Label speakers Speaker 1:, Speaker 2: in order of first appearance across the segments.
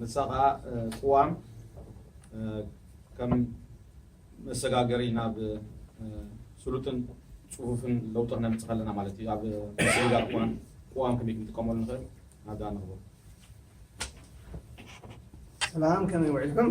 Speaker 1: ንሳ ከኣ ቅዋም ከም መሰጋገሪ ናብ ስሉጥን ጽፉፍን ለውጢ ክነምጽእ ከለና ማለት እዩ ኣብ ምስግጋር ቅዋም ቅዋም ከመይ ክንጥቀመሉ ንኽእል ናብዛ ንኽቦ ሰላም
Speaker 2: ከመይ ውዒልኩም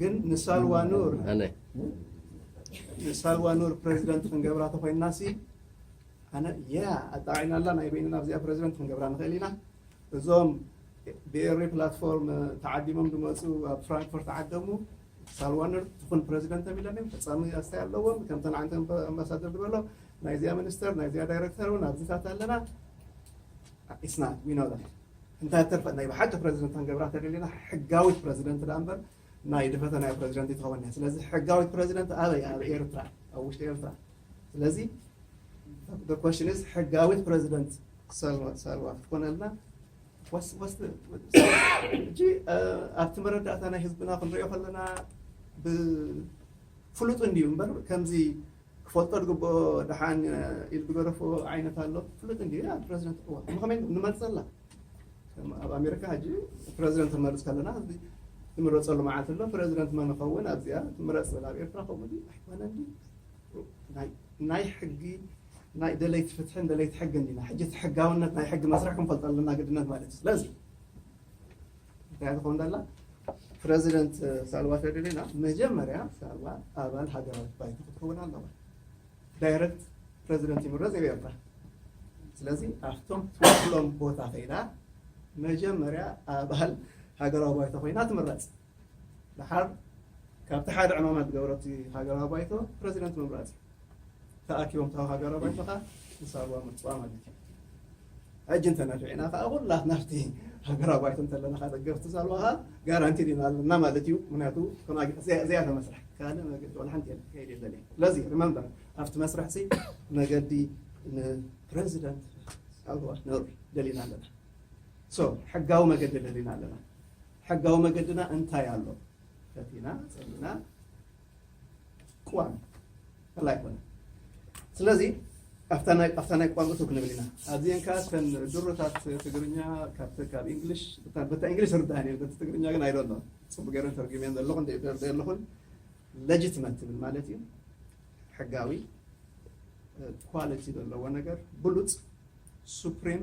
Speaker 2: ግን ንሳልዋ ኑር ንሳልዋ ኑር ፕረዚደንት ክንገብራ ተኾይንናሲ ኣነ ያ ኣጣዒናላ ናይ በይንና ኣብዚኣ ፕረዚደንት ክንገብራ ንኽእል ኢና እዞም ብኤሪ ፕላትፎርም ተዓዲሞም ዝመፁ ኣብ ፍራንክፈርት ዓደሙ ሳልዋነር ትኹን ፕረዚደንት ተቢሎም እዮም ፈፃሚ ኣስታይ ኣለዎም ከምተን ዓንተ ኣምባሳደር ዝበሎ ናይዚኣ ሚኒስተር ናይዚኣ ዳይረክተር እውን ኣብዚታት ኣለና ኢስና ዊኖ እንታይ ተርፈ ናይ ብሓቂ ፕረዚደንት ክንገብራ እንተደሊና ሕጋዊት ፕረዚደንት ደኣ እምበር ናይ ድፈተናዮ ፕረዚደንት ኣይትኸውንን እያ። ስለዚ ሕጋዊት ፕረዚደንት ኣበይ? ኣብ ኤርትራ፣ ኣብ ውሽጢ ኤርትራ። ስለዚ the question is ሕጋዊት ፕረዚደንት ሳልዋ ሳልዋ ክትኮነልና ወስ ወስ ሕጂ ኣብቲ መረዳእታ ናይ ህዝብና ክንሪኦ ከለና ብፍሉጥ እንድዩ እምበር ከምዚ ክፈልጦ ዝግብኦ ደሓን ኢድ ዝገደፎ ዓይነት ኣሎ ፍሉጥ እንድዩ ይላል ፕረዚደንት እዋእ እሞ ከመይ ንመርጸላ ከም ኣብ ኣሜሪካ ሕጂ ፕረዚደንት ንመርጽ ከለና ሕዚ ዝምረጸሉ መዓልቲ ኣሎ ፕረዚደንት መን ይኸውን ኣብዚኣ ትምረጽ ዝብል ኣብ ኤርትራ ከምኡ ድዩ ኣይኮነን ድዩ ናይ ሕጊ ናይ ደለይቲ ፍትሕን ደለይቲ ሕግን ኢና ሕጂ እቲ ሕጋውነት ናይ ሕጊ መስርሕ ክንፈልጦ ኣለና ግድነት ማለት እዩ ስለዚ እንታይ ትኾን ደላ ፕረዚደንት ሳልባ ሸሪሪና መጀመርያ ሳልባ ኣባል ሃገራዊት ባይቶ ክትከውን ኣለዋ ዳይረክት ፕረዚደንት ይምረፅ ይብ ኤርትራ ስለዚ ኣብቶም ትወክሎም ቦታ ከይዳ መጀመርያ ኣባል ሃገራዊ ባይቶ ኮይና ትምረፅ ድሓር ካብቲ ሓደ ዕማማ ዝገበረቲ ሃገራዊ ባይቶ ፕረዚደንት ምምራፅ እዩ ተኣኪቦም እታ ሃገራዊ ባይቶ ከኣ ንሳልዋ ምርጽዋ ማለት እዩ። ሕጂ እንተ ነፊዕና ከኣ ኩላትና ኣብቲ ሃገራዊ ባይቶ እንተ ኣለና ከኣ ደገፍቲ ሳልዋ ከኣ ጋራንቲ ዲና ኣለና ማለት እዩ። ምክንያቱ ከምኣ ዘያተ መስርሕ ካልእ መገዲ ዋላ ሓንቲ የለን ክከይድ የለን እዩ። ስለዚ remember ኣብቲ መስርሕሲ መገዲ ንፕረዚደንት ሳልዋ ነሩ ደሊና ኣለና። so ሕጋዊ መገዲ ደሊና ኣለና። ሕጋዊ መገድና እንታይ ኣሎ? ከፊና ጸሊእና ቅዋም ከላ ኣይኮነን ስለዚ ኣብታ ናይ ኣብታ ናይ ቋንቋ ቱ ክንብል ኢና ኣብዚአን ከዓ እተን ድሮታት ትግርኛ ካብቲ ካብ እንግሊሽ በታ እንግሊሽ ዝርዳእን እየን በቲ ትግርኛ ግን ኣይደሎ ፅቡቅ ገይረን ተርጊመን ዘለኹ እንደ ተርደ ኣለኹን ለጅትመት ትብል ማለት እዩ ሕጋዊ ኳሊቲ ዘለዎ ነገር ብሉፅ ሱፕሪም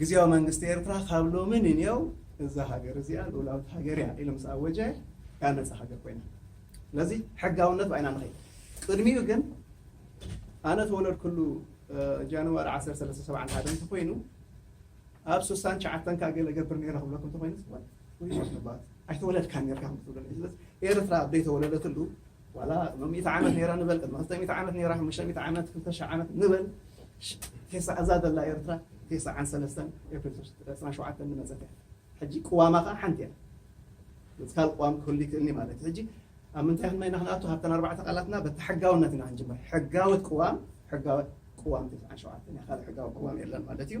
Speaker 2: ግዝያዊ መንግስቲ ኤርትራ ካብ ሎሚ ንኔው እዛ ሃገር እዚኣ ልኡላዊት ሃገር እያ ኢሉ ምስ ኣወጀ እያ ነጻ ሃገር ኮይና። ስለዚ ሕጋውነት ብ ኢና ንኸይድ። ቅድሚኡ ግን ኣነ ተወለድኩሉ ጃንዋሪ ዓሰርተ ሰለስተ ሰብዓን ሓደን እንተኾይኑ ኣብ ስሳን ትሽዓተን ከኣ ገለ እገብር ነይረ ክብለኩም እንተኾይኑ ጽቡቕ እዩ። ኣይተወለድካን ኔርካ ከም ክትብለኒ እዩ። ስለዚ ኤርትራ ኣብ ዘይተወለደትሉ ዋላ ቅድሚ ሚእቲ ዓመት ነይራ ንበል ቅድሚ ክልተ ሚእቲ ዓመት ነይራ ሓሙሽተ ሚእቲ ዓመት ክልተ ሽሕ ዓመት ንበል ቴስዓ እዛ ዘላ ኤርትራ ቴስዓን ሰለስተን ኤፕሪል ዕስራን ሸውዓተን ዝመጸት እያ ሕጂ ቅዋማ ከዓ ሓንቲ እያ እዚ ካልእ ቅዋም ክህሉ ይክእል እዩ ማለት እዩ ሕጂ ኣብ ምንታይ ክና ኢና ክንኣቱ ካብተን ኣርባዕተ ቃላትና በቲ ሕጋውነት ኢና ክንጅምር ሕጋወት ቅዋም ሕጋወት ቅዋም ቴስዓን ሸውዓተን እያ ካልእ ሕጋዊ ቅዋም የለን ማለት እዩ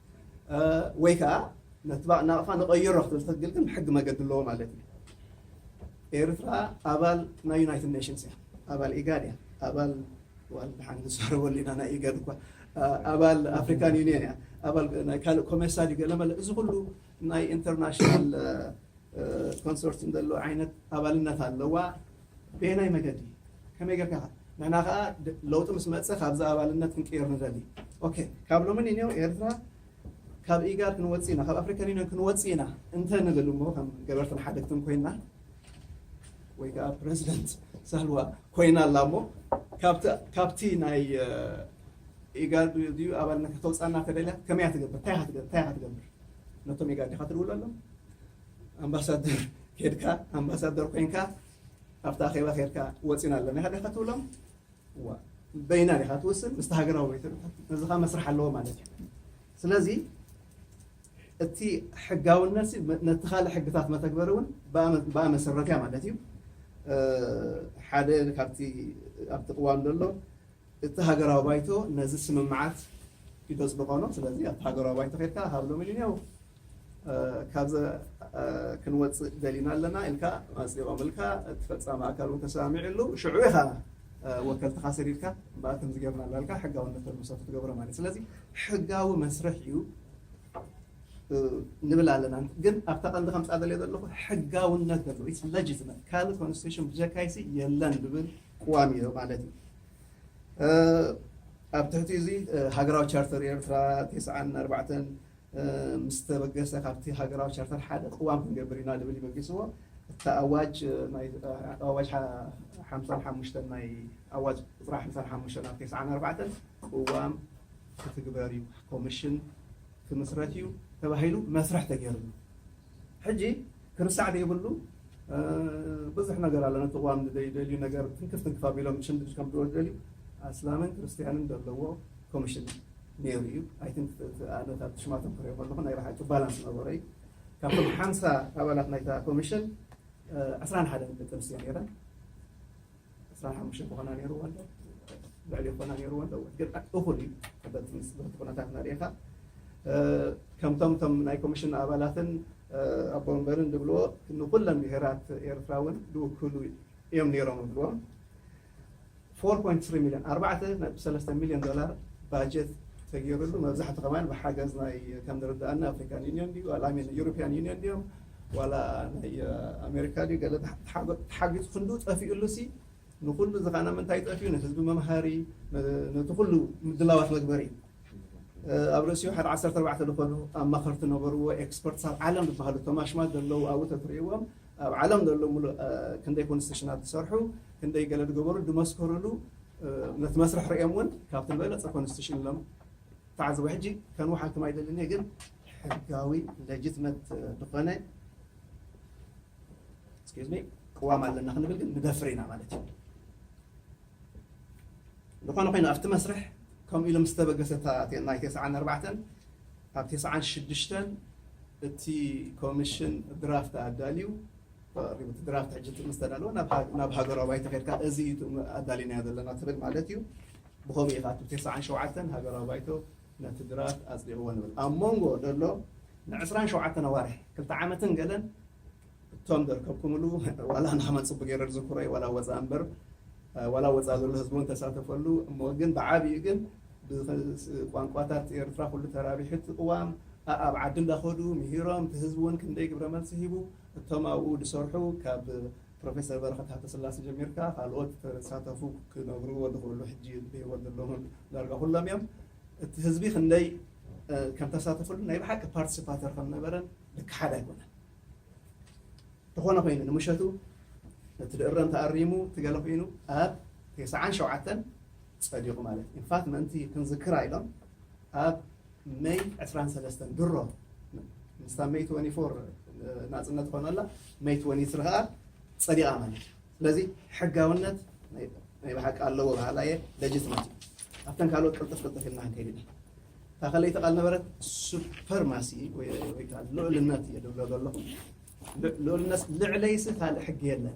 Speaker 2: ወይ ከኣ ነቲ ባእ ናቕፋ ንቐይሮ ክትብል ትኽግል ግን ብሕጊ መገዲ ኣለዎ ማለት እዩ። ኤርትራ ኣባል ናይ ዩናይትድ ኔሽንስ እያ፣ ኣባል ኢጋድ እያ፣ ኣባል ዋል ድሓን ንዛረበሉ ኢና ናይ ኢጋድ እኳ ኣባል ኣፍሪካን ዩኒየን እያ፣ ኣባል ናይ ካልእ ኮሜሳ ድዩ ገለመለ እዚ ኩሉ ናይ ኢንተርናሽናል ኮንሶርቲም ዘለዎ ዓይነት ኣባልነት ኣለዋ። በየናይ መገዲ ከመይ ጌርካ ከ ንሕና ከኣ ለውጢ ምስ መጸ ካብዚ ኣባልነት ክንቅየር ንደሊ ኦኬ ካብ ሎሚ ንንዮ ኤርትራ ካብ ኢጋድ ክንወጽእ ኢና ካብ ኣፍሪካን ዩኒዮን ክንወጽእ ኢና እንተ ንብል እሞ ከም ገበርትን ሓደግትን ኮይና ወይ ከዓ ፕረዚደንት ሳልዋ ኮይና ኣላ እሞ ካብቲ ናይ ኢጋድ ድዩ ኣባልነት ከተውፃና ተደልያ ከመይ ትገብር እንታይ ኢኻ ትገብር ነቶም ኢጋድ ዲኻ ትድውለሎም ኣምባሳደር ኬድካ ኣምባሳደር ኮይንካ ኣብቲ ኣኼባ ኬድካ ወጺና ኣለና ኢኻ ዲኻ ትብሎም እዋ በይና ዲኻ ትውስን ምስቲ ሃገራዊ ወይተ እዚ ከዓ መስርሕ ኣለዎ ማለት እዩ ስለዚ እቲ ሕጋውነት ነቲ ካልእ ሕግታት መተግበሪ እውን ብኣ መሰረት እያ ማለት እዩ ሓደ ካብቲ ኣብቲ ቅዋም ዘሎ እቲ ሃገራዊ ባይቶ ነዚ ስምምዓት ይተፅድቆ ነው ስለዚ ኣብቲ ሃገራዊ ባይቶ ከድካ ሃብሎም ኢሉ እኒው ካብዚ ክንወፅእ ደሊና ኣለና ኢልካ ኣፅዲቖምልካ እቲ ፈፃሚ ኣካል እውን ተሰማሚዕሉ ሽዑ ኢኻ ወከልትኻ ሰዲድካ እምበኣር ከምዚ ጌርና እናበልካ ሕጋውነት ተልምሶ ክትገብሮ ማለት እዩ ስለዚ ሕጋዊ መስርሕ እዩ ንብል ኣለና ግን ኣብታ ቀንዲ ከምፃ ደልየ ዘለኹ ሕጋውነት ዘለዎ ኢትስ ለጂትመት ካልእ ኮንስቲቱሽን ብጀካይሲ የለን ዝብል ቅዋም እዩ ማለት እዩ ኣብ ትሕቲ እዚ ሃገራዊ ቻርተር ኤርትራ 94 ምስ ተበገሰ ካብቲ ሃገራዊ ቻርተር ሓደ ቅዋም ክንገብር ኢና ዝብል እዩ በጊስዎ። እታ ኣዋጅ ናይ ኣዋጅ ሓምሳን ሓሙሽተን ናይ ኣዋጅ ቁጽሪ ሓምሳን ሓሙሽተን ኣብ ተስዓን ኣርባዕተን ቅዋም ክትግበር እዩ ኮምሽን ክምስረት እዩ ተባሂሉ መስርሕ ተገይርሉ ሕጂ ክርሳዕ ዘይብሉ ብዙሕ ነገር ኣሎ ነቲ ቅዋም ንዘይደልዩ ነገር ትንክፍ ትንክፍ ኣቢሎም ብሽምድምድ ከምጽእዎ ዝደልዩ ኣስላምን ክርስትያንን ዘለዎ ኮምሽን ኔሩ እዩ ኣይ ቲንክ እቲ ኣነ ካብቲ ሽማቶም ክሪኦ ከለኹ ናይ ብሓቂ ባላንስ ነበሮ እዩ ካብቶም ሓምሳ ኣባላት ናይታ ኮምሽን ዕስራን ሓደን ደቂ ኣንስትዮ ኔረን ዕስራን ሓሙሽተን ክኾና ነይርዎ ኣሎ ልዕሊ ክኾና ነይርዎ ኣሎ ግን እኹል እዩ በቲ በቲ ኩነታት ናርኢኻ ከምቶም ቶም ናይ ኮሚሽን ኣባላትን ኣቦ ወንበርን ዝብልዎ ንኩለን ብሄራት ኤርትራ እውን ዝውክሉ እዮም ነይሮም ዝብልዎም 4.3 ሚሊዮን ኣርባዕተ ነጥቢ ሰለስተ ሚሊዮን ዶላር ባጀት ተገይሩሉ መብዛሕቱ ከማን ብሓገዝ ናይ ከም ዝርድኣና ኣፍሪካን ዩኒዮን ድዩ ኣላሚን ዩሮፒያን ዩኒዮን ድዮም ዋላ ናይ ኣሜሪካ ድዩ ገለ ተሓጊዙ ክንድኡ ጠፊኡሉ ሲ ንኹሉ ዝኻነ ምንታይ ጠፊኡ ንህዝቢ መምሃሪ ነቲ ኩሉ ምድላዋት መግበሪ ኣብ ርእሲኡ ሓደ ዓሰርተ ኣርባዕተ ዝኾኑ ኣማኸርቲ ነበርዎ ኤክስፐርትስ ኣብ ዓለም ዝበሃሉ እቶም ኣሽማት ዘለዉ ኣብኡ ተትርእይዎም ኣብ ዓለም ዘሎ ሙሉእ ክንደይ ኮንስቲሽናት ዝሰርሑ ክንደይ ገለ ዝገበሩ ዝመስከርሉ ነቲ መስርሕ ርእዮም እውን ካብቲ ዝበለፀ ኮንስቲሽን ኢሎም ተዓዘቡ ሕጂ ከንውሓልኩም ኣይደልን እየ ግን ሕጋዊ ለጅትመት ድኾነ excuse me ቅዋም ኣለና ክንብል ግን ንደፍር ኢና ማለት እዩ ዝኾነ ኮይኑ ኣብቲ መስርሕ ከምኡ ኢሉ ምስ ተበገሰ ናይ ተስዓን ኣርባዕተን ኣብ ተስዓን ሽዱሽተን እቲ ኮሚሽን ድራፍት ኣዳልዩ ተቐሪቡ እቲ ድራፍት ሕጂ ምስ ተዳለወ ናብ ሃገራዊ ባይቶ ከድካ እዚ እዩ ኣዳሊናዮ ዘለና ትብል ማለት እዩ ብኸምኡ እዩ ከኣ ተስዓን ሸውዓተን ሃገራዊ ባይቶ ነቲ ድራፍት ኣጽዲቕዎ ንብል። ኣብ ሞንጎ ዘሎ ንዕስራን ሸውዓተን ኣዋርሕ፣ ክልተ ዓመትን ገለን፣ እቶም ዘርከብኩምሉ ዋላ ንኸመን ጽቡቕ ገይረ ዝዝክሮ እዩ፣ ዋላ ወጻእ እምበር፣ ዋላ ኣብ ወጻእ ዘሎ ህዝቢ እውን ተሳተፈሉ፣ እሞ ግን ብዓቢኡ ግን ብቋንቋታት ኤርትራ ኩሉ ተራቢሑ እቲ ቅዋም፣ ኣኣብ ዓዲ እንዳኸዱ ምሂሮም፣ እቲ ህዝቢ እውን ክንደይ ግብረ መልሲ ሂቡ፣ እቶም ኣብኡ ዝሰርሑ ካብ ፕሮፌሰር በረኸት ሃብተስላሰ ጀሚርካ ካልኦት ተሳተፉ ክነግርዎ ዝኽእሉ ሕጂ ብህይወት ዘለዉን ዳርጋ ኩሎም እዮም እቲ ህዝቢ ክንደይ ከም ተሳተፍሉ ናይ ብሓቂ ፓርቲስፓተር ከም ነበረን ዝከሓድ ኣይኮነን ተኾነ ኮይኑ ንምሸቱ እቲ ድእረም ተኣሪሙ እቲ ገለ ኮይኑ ኣብ ቴስዓን ሸውዓተን ጸዲቑ ማለት ኢዩ። ኢንፋት ምእንቲ ክንዝክራ ኢሎም ኣብ መይ ዕስራን ሰለስተን ድሮ ምስታ መይ ትወኒ ፎር ናጽነት ኮነላ መይ ትወኒ ስሪ ከኣ ጸዲቓ ማለት ኢዩ። ስለዚ ሕጋውነት ናይ ብሓቂ ኣለዎ በሃላይ እየ ለጅትመት እዩ። ኣብተን ካልኦት ቅልጥፍ ቅልጥፍ ኢልና ክንከይድ ኢና። እታ ከለይቲ ቃል ነበረት ሱፐርማሲ ወይ ወይ ከኣ ልዑልነት እየ ድብሎ ዘለኹ። ልዑልነት ልዕለይሲ ካልእ ሕጊ የለን።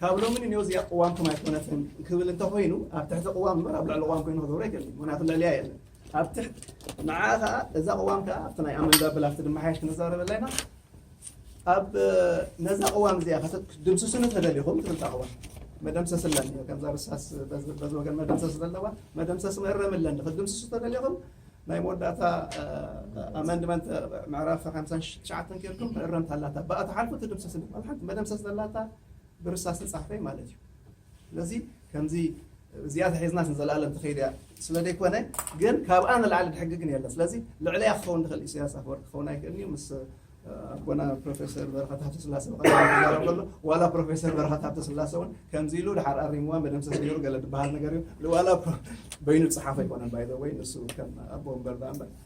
Speaker 2: ካብ ሎሚ ንኔው እዚኣ ቅዋምኩም ኣይኮነትን ክብል እንተ ኾይኑ ኣብ ትሕቲ ቅዋም እምበር ኣብ ልዕሊ ቅዋም ኮይኑ ክገብሮ ኣይክእልን ምክንያቱ ልዕሊኣ የለን ኣብ ትሕቲ ንዓ ከዓ እዛ ቅዋም ከዓ ኣብቲ ናይ ኣመንዳ ብል ኣብቲ ድመሓየሽ ክንዛረበላ ኢና ኣብ ነዛ ቅዋም እዚኣ ክትድምስሱን ተደሊኹም ትብልታ ቅዋም መደምሰስ ኣለን ከምዛ ርሳስ በዚ ወገን መደምሰስ ዘለዋ መደምሰስ መእረም ኣለን ክትድምስሱ ተደሊኹም ናይ መወዳእታ ኣመንድመንት ምዕራፍ 59 ኬርኩም መእረምታ ኣላታ ብኣ ተሓልፉ ትድምሰስ ሓንቲ መደምሰስ ዘላታ ብርሳስ ዝጻሕፈይ ማለት እዩ ስለዚ ከምዚ እዚኣ ተሒዝና ንዘለኣለም ትኸይድ እያ ስለ ዘይኮነ ግን ካብኣ ንላዕሊ ድሕጊ ግን የለን ስለዚ ልዕለያ ክኸውን ዝኽእል ኢሳያስ ኣፈወርቂ ክኸውን ኣይክእልን እዩ ምስ ኣቦና ፕሮፌሰር በረኸት ሃብተ ስላሴ ብቐዳም ከሎ ዋላ ፕሮፌሰር በረኸት ሃብተ ስላሴ እውን ከምዚ ኢሉ ድሓር ኣሪምዋ መደምሰስ ገይሩ ገለ ዝበሃል ነገር እዩ ዋላ በይኑ ዝፀሓፈ ኣይኮነን ባይዘወይ ንሱ ከም ኣቦ እምበር ዳኣ እምበር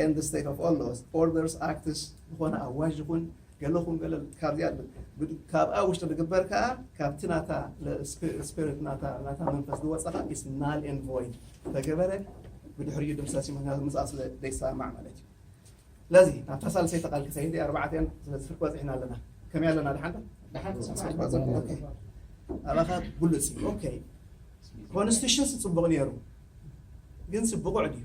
Speaker 2: and the state of all laws, orders, acts ዝኾነ ኣዋጅ ይኹን ገለኹም ገለል ካብዚኣ ብ- ካብኣ ውሽጢ ዝግበር ከዓ ካብቲ ናታ ስፒሪት ናታ ናታ መንፈስ ዝወፀ ከዓ is null and void ተገበረ ብድሕሪኡ ድምሰስ እዩ ምክንያቱ ምስኣ ስለ ዘይሰማማዕ ማለት እዩ ስለዚ ናብታ ሳልሰይቲ ቃል ክሰይድ ኣርባዕተን ስለዚ ፍርቂ በፂሕና ኣለና ከመይ ኣለና ድሓንዶ ድሓን ኦኬ ኣባኻ ብሉፅ እዩ ኦኬ ኮንስቲቱሽንስ ፅቡቕ ነይሩ ግንስ ብቑዕ ድዩ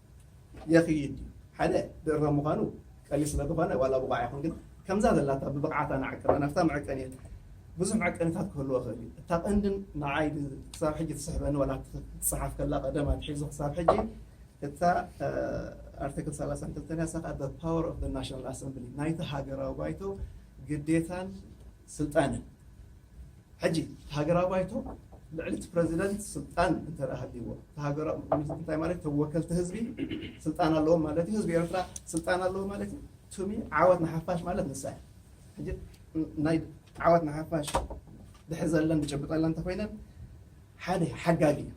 Speaker 2: የኽይድ ድዩ? ሓደ ድርባይ ምዃኑ ቀሊል ስለ ዝኾነ ዋላ ብቑዕ ኣይኹን ግን ከምዛ ዘላታ ብብቕዓታ ንዓቅና ናብታ መዐቀኒ እየ። ብዙሕ መዐቀኒታት ክህልዎ ይኽእል እዩ። እታ ቀንድን ንዓይ ክሳብ ሕጂ ትስሕበኒ ዋላ ክትጸሓፍ ከላ ቀደም ኣትሒዙ ክሳብ ሕጂ እታ ኣርቲክል ሰላሳን ክልተን እያ። እሳ ከኣ the power of the national assembly ናይቲ ሃገራዊ ባይቶ ግዴታን ስልጣንን ሕጂ እቲ ሃገራዊ ባይቶ ልዕሊ እቲ ፕረዚደንት ስልጣን እንተድኣ ሃልይዎ እቲ ሃገራዊ ባይቶ እንታይ ማለት እዩ እቶም ወከልቲ ህዝቢ ስልጣን ኣለዎም ማለት እዩ ህዝቢ ኤርትራ ስልጣን ኣለዎ ማለት እዩ ቱሚ ዓወት ንሓፋሽ ማለት ንሳ እያ ሕጂ ናይ ዓወት ንሓፋሽ ድሕሪ ዘለን ዝጭብጠለን እንተኮይነን ሓደ ሓጋጊ እዩ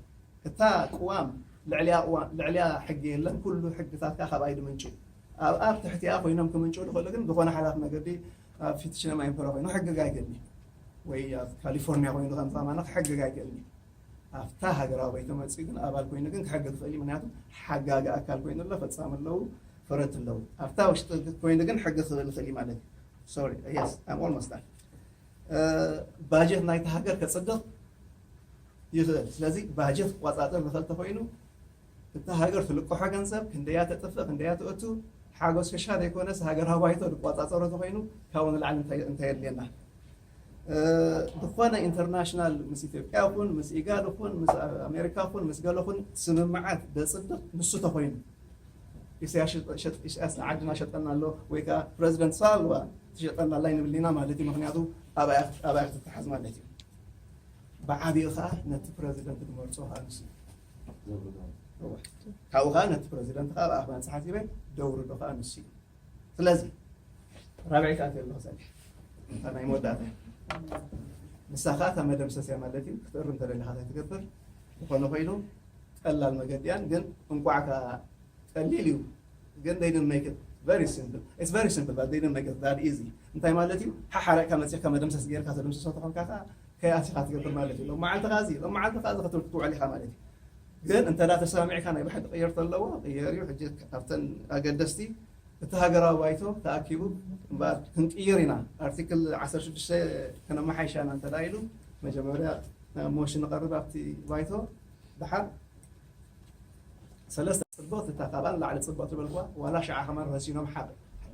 Speaker 2: እታ ቅዋም ልዕሊያ ቅዋም ልዕሊያ ሕጊ የለን ኩሉ ሕግታትካ ካብኣ ይድምንጩ ኣብኣ ትሕቲኣ ኮይኖም ክምንጩ ዝኽእሉ ግን ዝኾነ ሓላፍ መገዲ ኣብ ፊት ችነማይ እንተ ኮይኑ ሕግግ ኣይክእልን እዩ ወይ ኣብ ካሊፎርኒያ ኮይኑ ከም ዛማና ክሕግግ ኣይክእልን እዩ ኣብታ ሃገራዊ ባይቶ መፅኡ ግን ኣባል ኮይኑ ግን ክሕግግ ክእል እዩ ምክንያቱ ሓጋጊ ኣካል ኮይኑ ኣሎ ፈፃሚ ኣለዉ ፈረድቲ ኣለዉ ኣብታ ውሽጢ ኮይኑ ግን ሕጊ ክብል ክእል እዩ ማለት እዩ ሶሪ የስ ኣም ኦልሞስት ዳን ባጀት ናይቲ ሃገር ከፅድቕ ይኽእል ስለዚ ባጀት ክቆፃፀር ዝኽእል ተኮይኑ እታ ሃገር ትልቅሖ ገንዘብ ክንደያ ተጥፍእ ክንደያ ተእቱ ሓጎስ ክሻ ዘይኮነስ ሃገራዊ ባይቶ ዝቆፃፀሮ ተኮይኑ ካብኡ ንላዕሊ እንታይ የድልየና ዝኾነ ኢንተርናሽናል ምስ ኢትዮጵያ ይኹን ምስ ኢጋድ ይኹን ምስ ኣሜሪካ ይኹን ምስ ገለ ይኹን ስምምዓት ዘፅድቕ ንሱ ተኮይኑ ኢሳያስ ንዓድና ሸጠና ኣሎ ወይ ከዓ ፕረዚደንት ሳልዋ ትሸጠና ኣላ ይንብሊና ማለት እዩ ምክንያቱ ኣባያ ክትተሓዝ ማለት እዩ ብዓብኡ ከዓ ነቲ ፕረዚደንት ዝመርፆ ከዓ ንሱ ዘውርዶ ነዋሕቲ ካብኡ ከዓ ነቲ ፕረዚደንት ከዓ ኣብ ኣኽባን ፀሓፊበ ደውርዶ ከዓ ንሱ እዩ ስለዚ ራብዒት ኣትዮ ኣለኹ ፀኒሐ እታ ናይ መወዳእታ ንሳ ከዓ እታ መደምሰስ እያ ማለት እዩ ክትእርም እንተደሊኻ እንታይ ትገብር ዝኾነ ኮይኑ ቀላል መገዲ እያን ግን እንቋዕ ከዓ ቀሊል እዩ ግን they didn't make it very simple it's very simple but they didn't make it that easy እንታይ ማለት እዩ ሓሓረቅካ መፂእካ መደምሰስ ጌርካ ተደምስሶ ተኾንካ ከዓ ከይኣቲኻ ትገብር ማለት እዩ። ሎም መዓልቲ ከዚ ሎም መዓልቲ ከዚ ክትብል ክትውዕል ኢኻ ማለት እዩ። ግን እንተ ተሰማሚዕካ ናይ ብሓቂ ቅየርቶ ኣለዎ ቅየር እዩ። ሕጂ ኣብተን ኣገደስቲ እቲ ሃገራዊ ባይቶ ተኣኪቡ እምበኣር ክንቅይር ኢና ኣርቲክል 16 ከነመሓይሻ ኢና እንተ ኢሉ መጀመርያ ሞሽን ንቐርብ ኣብቲ ባይቶ ድሓር ሰለስተ ጽብቅቲ እታ ካብኣ ንላዕሊ ጽብቅቲ በልክዋ ዋላ ሽዓ ከማን ረሲኖም ሓቅ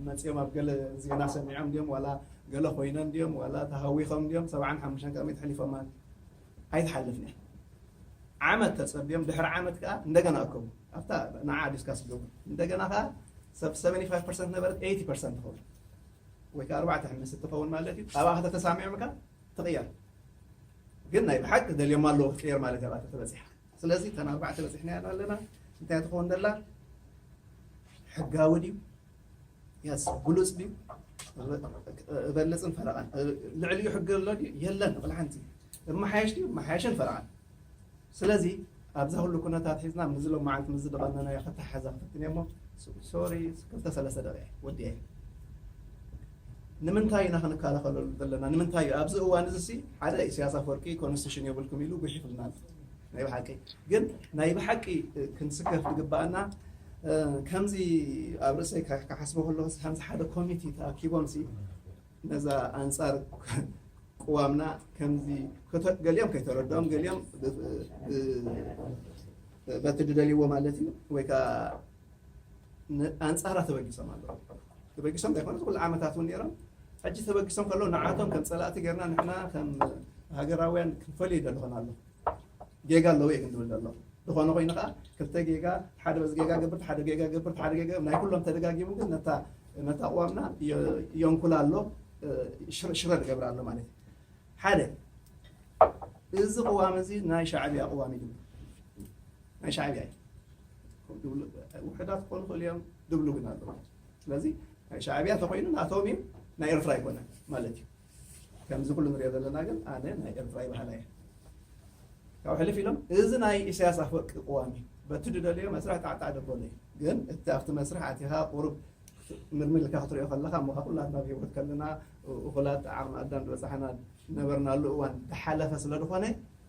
Speaker 2: መጽዮም ኣብ ገለ ዜና ሰሚዖም ድዮም ዋላ ገለ ኮይነን ድዮም ዋላ ተሃዊኾም ድዮም ሰብዓን ሓሙሽተን ቅድሚት ሕሊፎማ ኣይትሓልፍን እያ ዓመት ተጸብዮም ድሕሪ ዓመት ከኣ እንደገና ኣከቡ ኣብታ ንዓ ዲስካስ ይገብሩ እንደገና ከኣ ሰብ 75% ነበረት 80% ትኸውን ወይ ከኣ ኣርባዕተ ሕምስ እትኸውን ማለት እዩ ኣብኣ ከተተሳሚዖም ከኣ ትቕየር ግን ናይ ብሓቂ ደልዮም ኣለዎ ክትቅየር ማለት እያ ኣብኣ ተበጺሓ ስለዚ እተን ኣርባዕተ በጺሕናየን ኣለና። እንታይ እያ ትኸውን ዘላ? ሕጋዊ ድዩ? የስ ግሉጽ ድዩ? እበልጽን ፈረቓን ልዕሊኡ ሕጊ ኣሎ ድዩ? የለን ንቕል ሓንቲ እመሓየሽ ድዩ? እመሓየሽን ፈረቓን ስለዚ ኣብዚ ኩሉ ኩነታት ሒዝና ምዚ ሎማዓንቲ ምዚ ድቐነናዮ ከተሓሓዛ ክፍትን እየ እሞ ሶሪ ክልተ ሰለስተ ደቂቕ ወዲኤ ንምንታይ ኢና ክንከላኸለሉ ዘለና ንምንታይ እዩ ኣብዚ እዋን እዚ ሲ ሓደ ኢሰያስ ኣፈወርቂ ኮንስቲቱሽን የብልኩም ኢሉ ጉሒፍልና ኣሎ ናይ ብሓቂ ግን ናይ ብሓቂ ክንስከፍ ዝግባኣና ከምዚ ኣብ ርእሰይ ክሓስቦ ከለኹ ከምዚ ሓደ ኮሚቲ ተኣኪቦም ሲ ነዛ ኣንጻር ቅዋምና ከምዚ ገሊኦም ከይተረድኦም ገሊኦም በቲ ድደልይዎ ማለት እዩ ወይ ከዓ ኣንጻራ ተበጊሶም ኣለዉ። ተበጊሶም ዘይኮነስ እዚ ኩሉ ዓመታት እውን ነይሮም። ሕጂ ተበጊሶም ከለዉ ንዓቶም ከም ጸላእቲ ጌርና ንሕና ከም ሃገራውያን ክንፈልዮ ይደልኹን ኣለኹ። ጌጋ ኣለዉ እየ ግን ዝብል ዘለኹ። ዝኾነ ኮይኑ ከኣ ክልተ ጌጋ ሓደ በዚ ጌጋ ገብር እቲ ሓደ ጌጋ ገብር እቲ ሓደ ጌጋ ናይ ኩሎም ተደጋጊሙ ግን ነታ ነታ ኣቕዋምና የንኩላ ኣሎ ሽረ ዝገብራ ኣሎ ማለት እዩ። ሓደ እዚ ቅዋም እዚ ናይ ሻዕብያ ቅዋም እዩ ዝብል ናይ ሻዕብያ እዩ ከም ድብሉ ውሕዳት ክኾኑ ይኽእሉ እዮም ድብሉ ግን ኣለዎ ስለዚ ናይ ሻዕብያ ተኮይኑ ናቶም እዩ ናይ ኤርትራ ኣይኮነን ማለት እዩ ከምዚ ኩሉ ንሪኦ ዘለና ግን ኣነ ናይ ኤርትራ ይበሃላ እየ ካብ ሕልፍ ኢሎም እዚ ናይ ኢሳያስ ኣፈወርቂ ቅዋም እዩ በቲ ድደለዮ መስርሕ ጣዕጣዕ ደበሎ እዩ ግን እቲ ኣብቲ መስርሕ ኣቲኻ ቁሩብ ምርምር ኢልካ ክትሪኦ ከለካ እሞ ካብ ኩላትና ኣብ ሂወት ከለና እኹላት ዓቕሚ ኣዳም ዝበፃሕና ነበርናሉ እዋን ዝሓለፈ ስለ ዝኾነ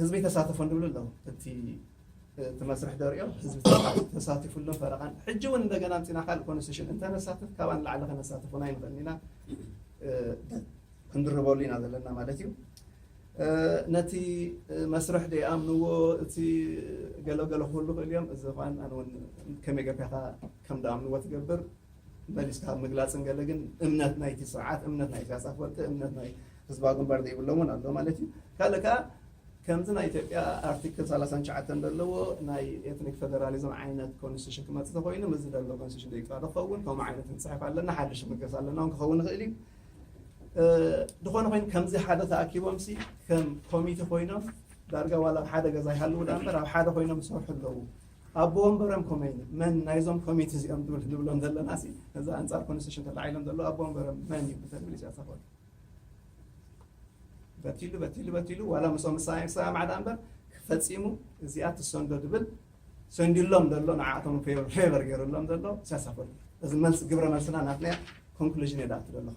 Speaker 2: ህዝቢ ኣይተሳተፎን ድብሉ ኣለዉ እቲ እቲ መስርሕ ደሪኦ ህዝቢ ተሳቲፉሎ ፈረቓን ሕጂ እውን እንደገና ኣምፂና ካልእ ኮንስቲቱሽን እንተነሳትፍ ካብኣ ንላዕሊ ከነሳትፉን ኣይንኽእልን ኢና ክንድርበሉ ኢና ዘለና ማለት እዩ ነቲ መስርሕ ደይኣምንዎ እቲ ገለገለ ክህሉ ክእል እዮም እዚ ኳን ኣነ እውን ከመይ ገርካካ ከም ደኣምንዎ ትገብር መሊስካ ኣብ ምግላፅን ገለ ግን እምነት ናይቲ ስርዓት እምነት ናይ ኢሳያስ ኣፈወርቂ እምነት ናይ ህዝባዊ ግንባር ዘይብሎም እውን ኣሎ ማለት እዩ ካልእ ከዓ ከምዚ ናይ ኢትዮጵያ ኣርቲክል 39 ዘለዎ ናይ ኤትኒክ ፌደራሊዝም ዓይነት ኮንስቲቱሽን ክመፅእ ተኮይኑ ምዚ ዘሎ ኮንስቲቱሽን ዘይቃዶ ክኸውን ከምኡ ዓይነት ክንፅሕፍ ኣለና ሓድሽ ምግስ ኣለና እውን ክኸውን ይኽእል እዩ ዝኾነ ኮይኑ ከምዚ ሓደ ተኣኪቦም ሲ ከም ኮሚቴ ኮይኖም ዳርጋ ዋላ ኣብ ሓደ ገዛ ይሃልዉ ዳ እምበር ኣብ ሓደ ኮይኖም ዝሰርሑ ኣለዉ ኣቦ ወንበሮም ኮመይነ መን ናይዞም ኮሚቲ እዚኦም ትብል ንብሎም ዘለና ሲ ነዚ ኣንጻር ኮንስቲቱሽን ተላዒሎም ዘለዉ ኣቦ ወንበሮም መን እዩ እንተንብል ኢሳያስ ኣፈወርቂ በቲሉ በቲሉ በቲሉ ዋላ ምስኦም ምሳይ ሰላም ዓዳ እምበር ፈጺሙ እዚኣ ትሰንዶ ድብል ሰንዲሎም ዘሎ ንዓኣቶም ፌቨር ገይሩሎም ዘሎ ኢሳያስ ኣፈወርቂ እዚ መልሲ ግብረ መልስና ናትና ኮንክሉዥን የዳእቱ ዘለኹ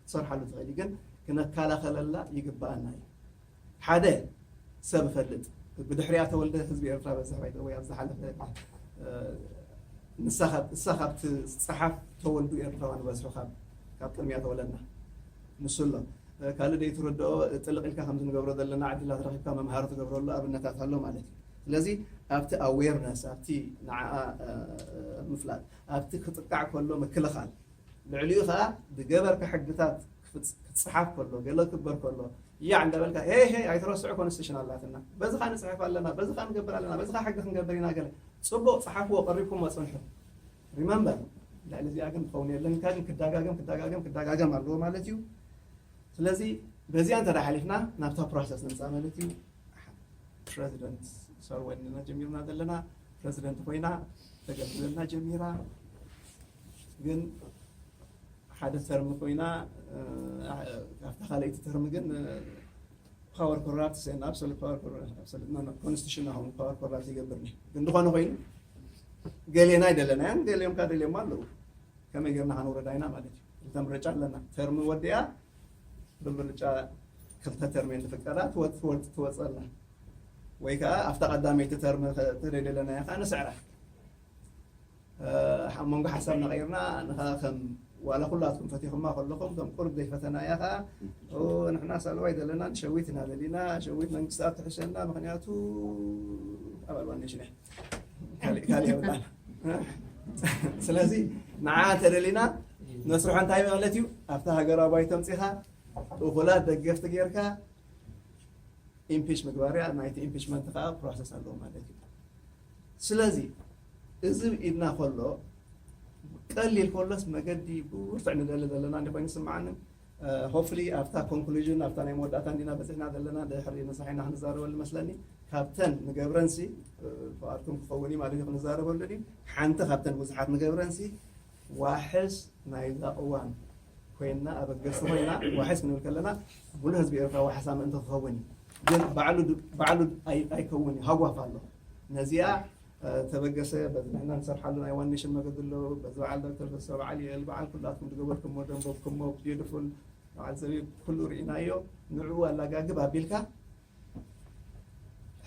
Speaker 2: ክትሰርሓሉ ትኽእሊ ግን ክነካላኸለላ ይግበኣና እዩ ሓደ ሰብ እፈልጥ ብድሕሪኣ ተወልደ ህዝቢ ኤርትራ በዝሕ ባይ ደወይ ኣብ ዝሓለፈ ንሳ ካብ እሳ ካብቲ ዝፀሓፍ ተወልዱ ኤርትራውያን ዝበዝሑ ካብ ካብ ቅድሚያ ተወለድና ንሱ ኣሎ ካልእ ዘይትርድኦ ጥልቕ ኢልካ ከምዚ ንገብሮ ዘለና ዕድላት ረኺብካ መምሃሪ ትገብረሉ ኣብነታት ኣሎ ማለት እዩ ስለዚ ኣብቲ ኣዌርነስ ኣብቲ ንዓኣ ምፍላጥ ኣብቲ ክጥቃዕ ከሎ ምክልኻል ልዕሊኡ ከኣ ብገበርካ ሕግታት ክጽሓፍ ከሎ ገለ ክግበር ከሎ ያዕ እንዳበልካ ሄይ ሄይ ኣይትረስዑ ኮንስቲቱሽን ኣላትና በዚኻ ንጽሕፍ ኣለና በዚኻ ንገብር ኣለና በዚኻ ሕጊ ክንገብር ኢና ገለ ጽቡቕ ጽሓፍዎ ቀሪብኩሞ ጽንሑ ሪመምበር ልዕሊ እዚኣ ግን ክኸውን የለን ካድን ክዳጋገም ክዳጋገም ክዳጋገም ኣለዎ ማለት እዩ ስለዚ በዚኣ እንተ ሓሊፍና ናብታ ፕሮሰስ ንምፃእ ማለት እዩ ፕረዚደንት ሰርወንና ጀሚርና ዘለና ፕረዚደንት ኮይና ተገልግለልና ጀሚራ ግን ሓደ ተርም ኮይና ኣብታ ካልኣይቲ ተርም ግን ፓወር ኮራፕት ሰን ኣብሶሉት ፓወር ኮንስቲቱሽን ናሆም ፓወር ኮራፕት ይገብር ነ ግን ዝኾነ ኮይኑ ገሌና ኣይደለናያን ገሌዮም ካ ደልዮም ኣለዉ ከመይ ጌርና ከንውረዳ ኢና ማለት እዩ ክልተ ምርጫ ኣለና ተርሚ ወዲኣ ብምርጫ ክልተ ተርሚ ንፍቀዳ ትወፅወፅ ትወፀላ ወይ ከዓ ኣብታ ቀዳመይቲ ተርሚ ተደለናያ ከዓ ንስዕራ ኣብ መንጎ ሓሳብና ቀይርና ንኻ ከም ዋላ ኩላትኩም ፈቲኹማ ከለኹም ከም ቁርብ ዘይፈተናያ ከኣ ንሕና ሳልዋ ኣይደለናን ሸዊት ኢና ደሊና ሸዊት መንግስትኣብ ትሕሸና ምክንያቱ ኣባል ዋኔሽን እያ ካልእ ካልእ የብላን ስለዚ ንዓ እንተደሊና መስርሖ እንታይ ማለት እዩ ኣብቲ ሃገራዊ ባይቶ ኣምፂኻ እኹላት ደገፍቲ ጌርካ ኢምፒች ምግባር እያ ናይቲ ኢምፒችመንት ከዓ ፕሮሰስ ኣለዎ ማለት እዩ ስለዚ እዝብ ኢልና ከሎ ቀሊል ከሎስ መገዲ ብርቱዕ ንደሊ ዘለና እንዲ ኮይኑ ዝስምዓኒ ሆፕፍሊ ኣብታ ኮንክሉዥን ኣብታ ናይ መወዳእታ እንዲና በጺሕና ዘለና ድሕሪ ነሳሒና ክንዛረበሉ መስለኒ ካብተን ንገብረንሲ ፍቓድኩም ክኸውን እዩ ማለት እዩ ክንዛረበሉ ድዩ ሓንቲ ካብተን ብዙሓት ንገብረንሲ ዋሕስ ናይዛ እዋን ኮይና ኣበገስቲ ኮይና ዋሕስ ክንብል ከለና ሙሉእ ህዝቢ ኤርትራ ዋሕሳ ምእንቲ ክኸውን እዩ ግን ባዕሉ ባዕሉ ኣይከውን እዩ ሃጓፍ ኣሎ ነዚኣ ተበገሰ በዚ ንሕና ንሰርሓሉ ናይ ዋን ኔሽን መገዲ ኣሎ በዚ በዓል ዶክተር ተስፋ በዓል ዩኤል በዓል ኩላትኩም ዝገበርኩሞ ደንቦብኩሞ ቢዩትፉል በዓል ዘቢብ ኩሉ ርኢናዮ ንዕኡ ኣላጋግብ ኣቢልካ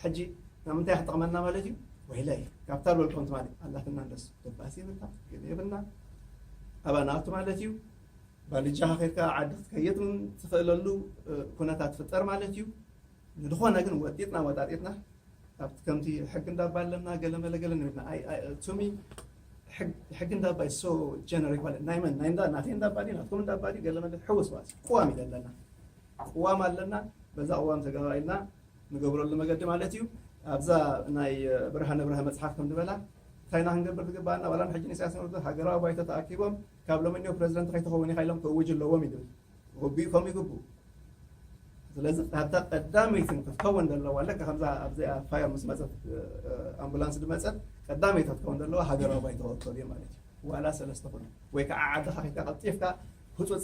Speaker 2: ሕጂ ናብ ምንታይ ክጠቕመና ማለት እዩ ወይለይ ካብታ ዝበልኩም ትማሊ ኣላትና እንደስ ደባሲ የብልና ገለ የብልና ኣብኣ ንኣቱ ማለት እዩ ባልጃኻ ከድካ ዓዲ ክትከይድ ትኽእለሉ ኩነታት ፍጠር ማለት እዩ ንድኾነ ግን ወጢጥና ወጣጢጥና ኣብቲ ከምቲ ሕጊ እንዳባ ኣለና ገለ መለ ገለ ንብልና ኣይ ኣይ to me ሕግ ሕጊ እንዳባ is so generic ማለት ናይ መን ናይ እንዳ ናተይ እንዳባ ድዩ ናትኩም እንዳባ ድዩ ገለ መለ ሕውስ ዋስ ቅዋም እዩ ዘለና ቅዋም ኣለና በዛ ቅዋም ተጋባ ኢልና ንገብረሉ መገዲ ማለት እዩ ኣብዛ ናይ ብርሃነ ብርሃ መፅሓፍ ከም ዝበላ እንታይ ኢና ክንገብር ዝግባኣና ዋላ ንሕጂ ንኢሳያስ ንወርዶ ሃገራዊ ባይቶ ተኣኪቦም ካብ ሎሚ እኒኦ ፕረዚደንት ከይትኸውን ኢኻ ኢሎም ክእውጁ ኣለዎም እዩ ዝብል ኦቢ ከምኡ ይግብኡ ስለዚ ኣብታ ቀዳመይቲ ክትከውን ዘለዋ ልክ ከምዛ ኣብዚኣ ፋየር ምስ መፀት ኣምቡላንስ ዝመፀት ቀዳመይቲ ክትከውን ዘለዋ ሃገራዊ ባይቶ ክወከሉ እዩ ማለት እዩ ዋላ ሰለስተ ኩሉ ወይ ከዓ ዓድኻ ከይድካ ቀልጢፍካ ህፁፅ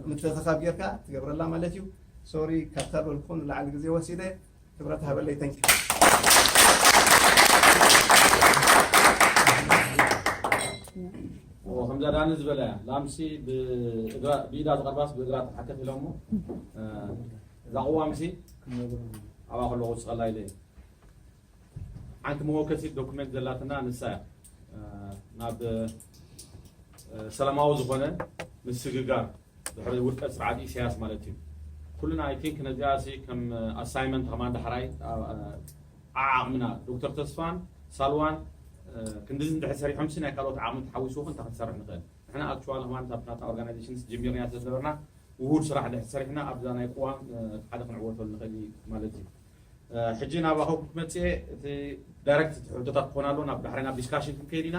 Speaker 2: ምትእኽኻብ ጌርካ ትገብረላ ማለት እዩ ሶሪ ካብ ተበልኩ ንላዕሊ ግዜ ወሲደ ክብረት ሃበለይ ተንኪ
Speaker 1: ከምዛ ዳኒ ዝበለ ላምሲ ብኢዳ ዝቐርባስ ብእግራ ተሓከፍ ኢሎሞ እዛ ቅዋምሲ ኣብኣ ከለኹ ዝፀላ ኢለ ሓንቲ መወከሲ ዶኩሜንት ዘላትና ንሳ እያ ናብ ሰላማዊ ዝኾነ ምስግጋር ድሕሪ ውድቀት ስርዓት ኢሰያስ ማለት እዩ ኩልና ኣይ ቲንክ ነዚኣሲ ከም ኣሳይመንት ከማን ዳሕራይ ዓዓቅምና ዶክተር ተስፋን ሳልዋን ክንድዚ እንድሕር ሰሪሖምሲ ናይ ካልኦት ዓቅሚ ተሓዊሱ ውን እንታይ ክንሰርሕ ንኽእል ንሕና ኣክቹዋሊ ከማን እታ ናታ ኦርጋናይዜሽንስ ጀሚርናያ ስለ ዝነበርና ውሁድ ስራሕ ድሕር ሰሪሕና ኣብዛ ናይ ቅዋም እቲ ሓደ ክንዕወተሉ ንኽእል ማለት እዩ ሕጂ ናባኹም ክትመጽእ እቲ ዳይረክት ሕቶታት ክኾን ኣሎ ናብ ዳሕራይ ናብ ዲስካሽን ክንከይድ ኢና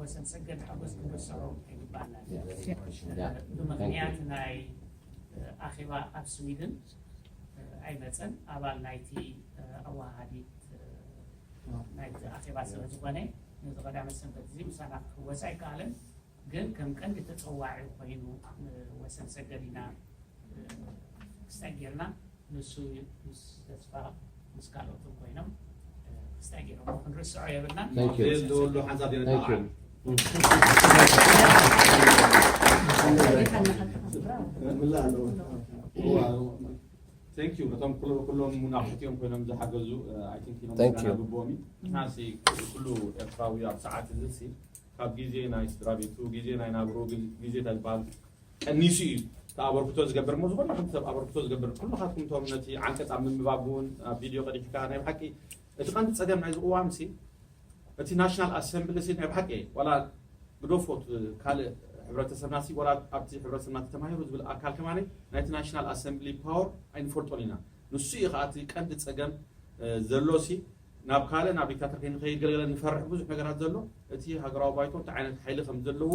Speaker 3: ወሰንሰገድ ሓጎስ ክብሰሮም ኣይግባእናን እዩ። ብምኽንያት ናይ ኣኼባ ኣብ ስዊድን ኣይመፀን ኣባል ናይቲ ኣወሃሃዲት ናይቲ ኣኼባ ስለ ዝኾነ ነዚ ቀዳመ ሰንበት እዚ ምሳና ክሕወስ ኣይከኣለን። ግን ከም ቀንዲ ተፀዋዒ ኮይኑ ወሰንሰገድ ኢና ክስታይ ጌርና ንሱ ምስ ተስፋ ምስ
Speaker 4: ካልኦትን ኮይኖም ክስታይ ገይሮሞ ክንርስዖ
Speaker 1: የብልናን ዘየለወሉ ሓንሳብ የነጣዓል Thank you በቶም ኩሉ ኩሎም ናብሕቲኦም ኮይኖም ዝሓገዙ ኣይ ቲንክ ኢሎም Thank you. ግብኦም እዩ
Speaker 4: ንሕናሲ
Speaker 1: ኩሉ ኤርትራዊ ኣብ ሰዓት እዚ ሲ ካብ ግዜ ናይ ስድራ ቤቱ ግዜ ናይ ናብሩ ግዜ እንታይ ዝበሃል ቀኒሱ እዩ እቲ ኣበርክቶ ዝገብር እሞ ዝኾነ ይኹን ሰብ ኣበርክቶ ዝገብር ኩልኻትኩም እቶም ነቲ ዓንቀፅ ኣብ ምንብባብ እውን ኣብ ቪድዮ ቀዲሕካ ናይ ብሓቂ እቲ ቀንዲ ፀገም ናይዚ ቅዋም ሲ እቲ ናሽናል ኣሰምብሊ ሲ ናይ ብሓቂ እየ ዋላ ግደፎ ካልእ ሕብረተሰብና ሲ ዋላ ኣብቲ ሕብረተሰብና ተማሂሩ ዝብል ኣካል ከማኒ ናይቲ ናሽናል ኣሰምብሊ ፓወር ኣይንፈልጦን ኢና ንሱ እዩ ከዓ እቲ ቀንዲ ፀገም ዘሎ ሲ ናብ ካልእ ናብ ዲክታተር ከይንኸይድ ገለገለ ንፈርሕ ብዙሕ ነገራት ዘሎ እቲ ሃገራዊ ባይቶ እንታይ ዓይነት ሓይሊ ከም ዘለዎ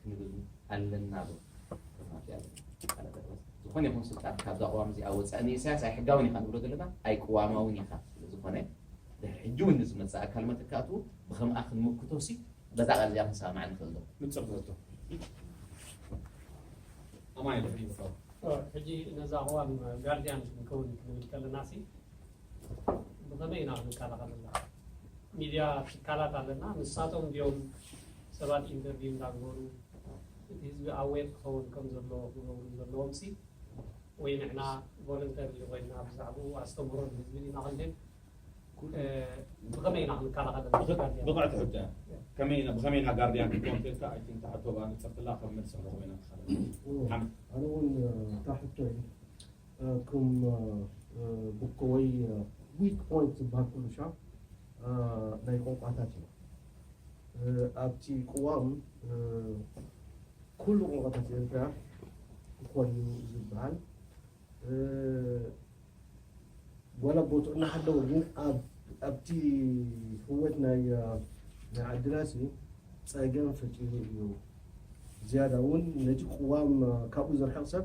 Speaker 5: ክንብል ኣለና ዶ? ዶር ማትያስ ቃለበርወዝ፣ ዝኾነ ይኹን ስልጣን ካብዛ ቅዋም እዚኣ ወጻኢ ንኢሳያስ ኣይሕጋውን ኢኻ ንብሎ ዘለና ኣይቅዋማውን ኢኻ ስለ ዝኾነ ድሕሪ ሕጂ እውን ንዝመጽእ ኣካል መተካእትኡ ብኸምኣ ክንምክቶሲ በዛ ቃል እዚኣ ክንሰማማዕ ንኽእል ዶ? ንጹር ዘቶ
Speaker 1: ኣማይ ሕጂ ነዛ
Speaker 6: ቅዋም ጋርድያን ክንከውን ክንብል ከለናሲ ብኸመይ ኢና ክንከላኸለላ? ሚድያ ትካላት ኣለና፣ ንሳቶም ድዮም ሰባት ኢንተርቪው እንዳግበሩ እቲ ህዝቢ ኣዌር ክኸውን ከም ዘለዎ ክገብሩ ዘለዎምሲ ወይ ንሕና ቮለንተሪ ኮይና ብዛዕብኡ ኣስተምህሮ ንህዝቢ ዲና ክንህብ? ብኸመይ ኢና ክንከላኸለላ? ብቕዕቲ ሕቶ
Speaker 1: እያ። ከመይ ኢና ብኸመይ ኢና ጋርድያን ክትከውን እንተኢልካ ኣይ ቲንክ እታ ሕቶ ብኣንጸርትላ ከም መልሲ ኣለኹ ኮይና ትኸለል። ኣነ እውን
Speaker 7: እታ ሕቶ ክም ቡኮ ወይ ዊክ ፖይንት ዝበሃል ኩሉ ሻብ ናይ ቆንቋታት እዩ። ኣብቲ ቅዋም ኩሉ ቆንቋታት ኤርትራ ክኾን እዩ ዝበሃል ዋላ ቦትኡ እናሃለወ ግን ኣብቲ ህወት ናይ ዓድናሲ ጸገም ፈጢሩ እዩ። ዝያዳ እውን ነቲ ቅዋም ካብኡ ዘርሕቕ ሰብ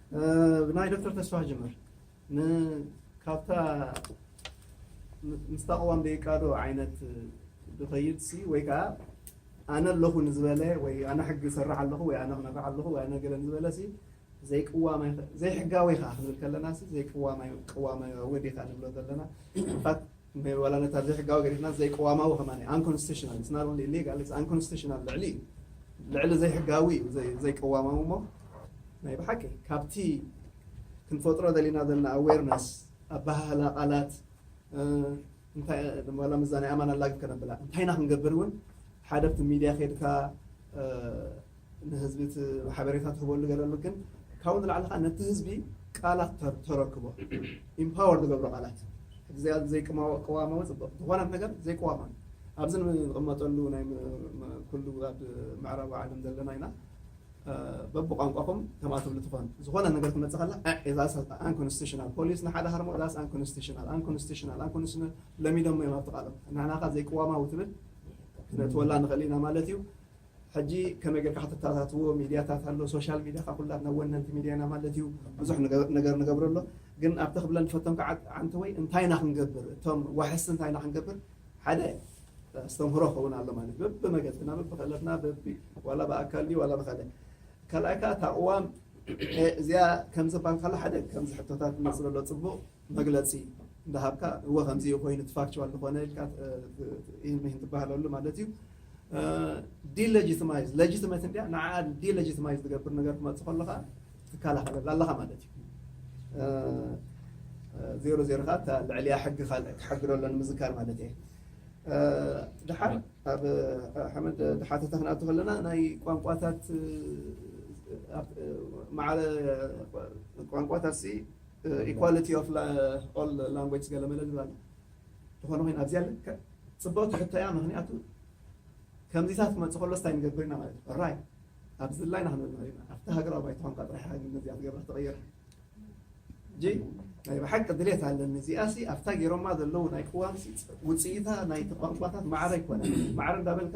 Speaker 2: ብናይ ዶክተር ተስፋ ጅምር ካብታ ምስታ ቅዋም ደይቃዶ ዓይነት ድኸይድሲ ወይ ከዓ ኣነ ኣለኹ ንዝበለ ወይ ኣነ ሕጊ ይሰርሕ ኣለኹ ወይ ኣነ ክመርሕ ኣለኹ ወይ ኣነ ገለ ንዝበለ ሲ ዘይቅዋማይ ዘይሕጋዊ ከዓ ክንብል ከለና ሲ ዘይቅዋማይ ቅዋማዊ ዴታ ንብሎ ዘለና ዋላ ነታ ዘይሕጋዊ ገዲፍናስ ዘይቅዋማዊ ከማን እዩ ኣንኮንስቲቱሽናል ኢትስ ናት ኦንሊ ኢሊጋል ኢትስ ኣንኮንስቲቱሽናል ልዕሊ እዩ ልዕሊ ዘይሕጋዊ እዩ ዘይቅዋማዊ እሞ ናይ ብሓቂ ካብቲ ክንፈጥሮ ደሊና ዘለና ኣዌርነስ ኣበሃህላ ቃላት ዋላ ምዛ ናይ ኣማን ኣላግብ ከነብላ እንታይና ክንገብር እውን ሓደ ኣብቲ ሚድያ ከድካ ንህዝቢ እቲ ሓበሬታ ትህበሉ ገለሉ ግን ካብኡ ንላዕሊ ከኣ ነቲ ህዝቢ ቃላት ተር ተረክቦ ኢምፓወር ዝገብሮ ቃላት ሕጂ ዘይ ዘይቅማዎ ቅዋማዊ ጽቡቅ ዝኾነ ነገር ዘይቅዋማዊ ኣብዚ ንቕመጠሉ ናይ ኩሉ ኣብ ምዕራባዊ ዓለም ዘለና ኢና በብቋንቋኹም ከምኣ ትብሉ ትኾኑ ዝኾነ ነገር ትመጽእ ከላ ዕ ዛስ ኣንኮንስቲሽናል ፖሊስ ንሓደ ሃርሞ ዛስ ኣንኮንስቲሽናል ኣንኮንስቲሽናል ኣንኮንስቲሽናል ለሚዶሞ እዮም ኣብቲ ቃሎም ንሕናኻ ዘይቅዋማዊ ትብል ክነእትወላ ንኽእል ኢና ማለት እዩ ሕጂ ከመይ ጌርካ ከተተኣታትዎ ሚድያታት ኣሎ ሶሻል ሚድያ ካብ ኩላትና ወነንቲ ሚድያ ኢና ማለት እዩ ብዙሕ ነገር ንገብሮ ኣሎ ግን ኣብቲ ክብለን ዝፈተንኩ ዓዓንተወይ እንታይ ኢና ክንገብር እቶም ዋሕስቲ እንታይ ኢና ክንገብር ሓደ ኣስተምህሮ ክኸውን ኣሎ ማለት በብመገድና በብክእለትና በቢ ዋላ ብኣካል ድዩ ዋላ ብካልእ ካልኣይ ከዓ እታ ቅዋም እዚኣ ከምዚ ባልካላ ሓደ ከምዚ ሕቶታት ንመስሎ ኣሎ ፅቡቅ መግለጺ እንዳሃብካ እወ ከምዚ እዩ ኮይኑ እቲ ፋክቹዋል ዝኾነ ኢልካ ኢሂን ምሂን ትባሃለሉ ማለት እዩ። ዲለጂትማይዝ ለጂትመት እንድያ ንዓኣ ዲለጂትማይዝ ዝገብር ነገር ክመጽእ ከሎ ከኣ ትከላኸለላ ኣለኻ ማለት እዩ። ዜሮ ዜሮ ከኣ እታ ልዕሊኣ ሕጊ ካልእ ክሓግዶ ኣሎ ንምዝካር ማለት እየ። ድሓር ኣብ ሓመድ ድሓተታ ክንኣቱ ከለና ናይ ቋንቋታት ማዕረ ቋንቋታትሲ ኢኳሊቲ ኦፍ ኦል ላንጉጅስ ገለመለ ዝብል ኣሎ ዝኾነ ኮይኑ ኣብዚኣ ልክዕ ጽብቕቲ ሕቶ እያ ምኽንያቱ ከምዚታት ክመጽእ ከሎ ስታይ ንገብር ኢና ማለት እዩ ራይ ኣብ ዝላይና ክንብል ኢና ኣብቲ ሃገራዊ ባይታ ኳንካ ጥራሕ ኢኻ ግን ነዚኣ ትገብራ ተቐይራ እጂ ናይ ብሓቂ ድሌት ኣለኒ እዚኣሲ ኣብታ ገይሮማ ዘለዉ ናይ ቅዋም ውፅኢታ ናይ ተቋንቋታት ማዕረ ኣይኮነ ማዕረ እንዳበልካ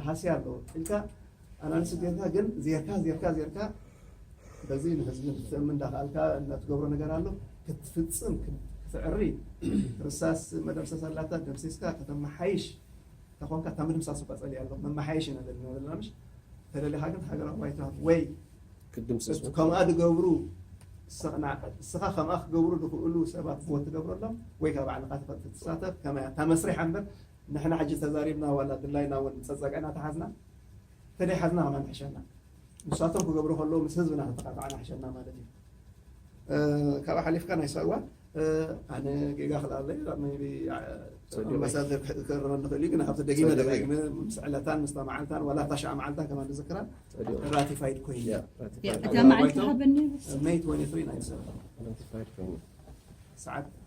Speaker 2: ሃስያ ኣለዎ ኢልካ ኣናሊሲስ ጌርካ ግን ዜርካ ዜርካ ዜርካ በዚ ንህዝቢ ክትእምን እንዳኸኣልካ እንዳትገብሮ ነገር ኣሎ ክትፍፅም ክትዕሪ ርሳስ መደምሰስ ኣላታ ደምሲስካ ከተመሓይሽ ተኾንካ እታ ምድምሳስ እኳ ፀሊእ ኣሎ መመሓየሽ ኢና ዘለና ዘለና ምሽ ተደሊኻ ግን ሃገራዊ ባይታ ወይ ክትድምሰሱ
Speaker 4: ከምኣ ዝገብሩ
Speaker 2: እስኻ ከምኣ ክገብሩ ዝኽእሉ ሰባት ቦት ትገብረሎም ወይ ካብ ባዕልኻ ትሳተፍ ከመያ እታ መስሪሕ እምበር ንሕና ሕጂ ተዛሪብና ዋላ ድላይና ውን ጸጸግዕና ተሓዝና ተደይሓዝና ኣሕና ንሕሸና ንሳቶም ክገብሩ ከለዉ ምስ ህዝብና ተተቃጥዓ ንሕሸና ማለት እዩ ካብኣ ሓሊፍካ ናይ ሳዋ ኣነ ጌጋ ክልኣለይ ቢ ኣምባሳደር ክእረመኒ ክእል እዩ ግን ካብቲ ደጊመ ደጋጊመ ምስ ዕለታን ምስታ መዓልታን ዋላ እታ ሸዓ መዓልታ ከማ ንዝክራ ራቲፋይድ ኮይኑ እታ
Speaker 8: መዓልቲ ሃበኒ
Speaker 2: ሰዓት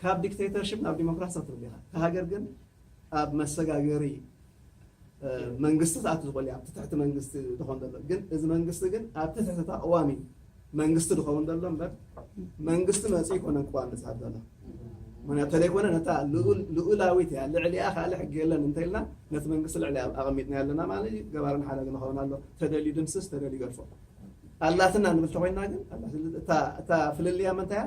Speaker 2: ካብ ዲክተይተርሽፕ ናብ ዲሞክራሲ ኣትርጉ ኢኻ፣ እታ ሃገር ግን ኣብ መሰጋገሪ መንግስቲ ክትኣቱ ዝኽእል እያ፣ ኣብ ትሕቲ መንግስቲ ዝኸውን ዘሎ ግን እዚ መንግስቲ ግን ኣብ ትሕቲ እታ ቅዋሚ መንግስቲ ዝኸውን ዘሎ እምበር መንግስቲ መፅኡ ይኮነን ቅዋም ዝፅሕፍ ዘሎ ምክንያቱ ተደይኮነ ነታ ልኡላዊት እያ ልዕሊኣ ካልእ ሕጊ የለን እንተኢልና ነቲ መንግስቲ ልዕሊ ኣቐሚጥና ኣለና ማለት እዩ ገባርን ሓዳግን ኸውን ኣሎ ተደልዩ ድምስስ ተደልዩ ገድፎ ኣላትና ንብል ተኮይንና ግን እታ ፍልልያ ምንታይ እያ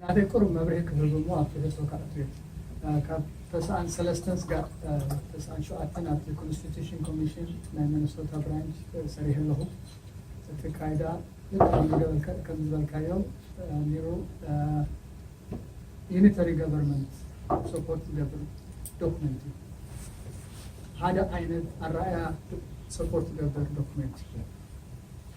Speaker 9: ናተይ ቅሩብ መብርሂ ክህብ እሞ ኣብቲ ህጹ ከኣቱ እየ ካብ ተስዓን ሰለስተን ስጋዕ ተስዓን ሸውዓተን ኣብቲ ኮንስቲቱሽን ኮሚሽን ናይ መነሶታ ብራንች ሰሪሐ ኣለኹ እቲ ካይዳ ከም ዝበልካዮ ኒሩ ዩኒተሪ ገቨርንመንት ሰፖርት ዝገብር ዶክመንት እዩ ሓደ ዓይነት ኣረኣያ ሰፖርት ዝገብር ዶክመንት እዩ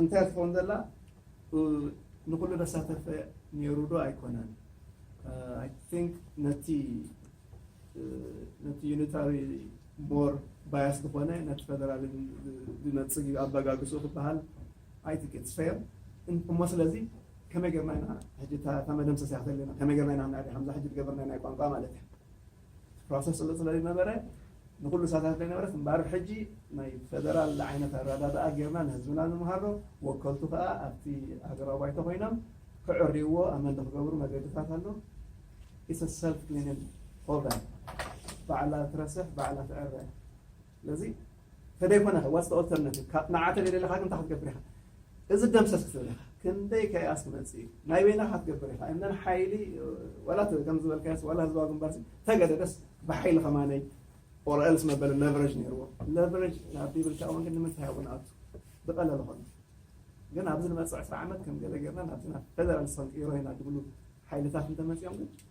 Speaker 2: እንታይ ትኸውን ዘላ ንኹሉ ዘሳተፈ ኔሩ ዶ ኣይኮነን ኣይ ቲንክ ነቲ ነቲ ዩኒታሪ ሞር ባያስ ዝኾነ ነቲ ፈደራል ዝነጽግ እዩ ኣበጋግስኡ ክበሃል ኣይ ቲንክ ኢትስ ፌር እሞ ስለዚ ከመይ ጌርና ኢና ሕጂ እታ መደምሰስያ ተለና ከመይ ጌርና ኢና ክንኣልያ ከምዛ ሕጂ ዝገበርናያ ናይ ቋንቋ ማለት እያ ፕሮሰስ ስለ ስለዝነበረ ንኹሉ ሳታፊ ነበረት እምበኣር ሕጂ ናይ ፈደራል ዓይነት ኣረዳድኣ ጌርና ንህዝብና ንምሃሮ ወከልቱ ከኣ ኣብቲ ሃገራዊ ባይቶ ኮይኖም ክዕርይዎ ኣመንቲ ክገብሩ መገድታት ኣሎ ኢትስ ሰልፍ ክሊኒንግ ፕሮግራም ባዕላ ትረስሕ ባዕላ ትዕረ ስለዚ ተደይኮነ ከ ዋትስ ኦልተርናቲቭ ካብ ንዓተ ደለኻ ግን እንታይ ክትገብር ኢኻ እዚ ደምሰስ ክትብል ኢኻ ክንደይ ከያስ ክመፅእ እዩ ናይ በይናኻ ክትገብር ኢኻ እነን ሓይሊ ዋላ ከም ዝበልካዮስ ዋላ ህዝባዊ ግንባር ተገደደስ ብሓይሊ ከማነይ ኦር ኤልስ መበለ ለቨሬጅ ነይርዎ ለቨሬጅ ናብ ቢብል ሻውን ግን ንምንታይ እውን ኣቱ ዝቀለለ ኮነ ግን ኣብዚ ንመፅእ ዕስራ ዓመት ከም ገለ ጌርና ናብቲ ናብ ፌደራል ሰንቂሮ ኢና ዝብሉ ሓይልታት እንተመፅኦም ግን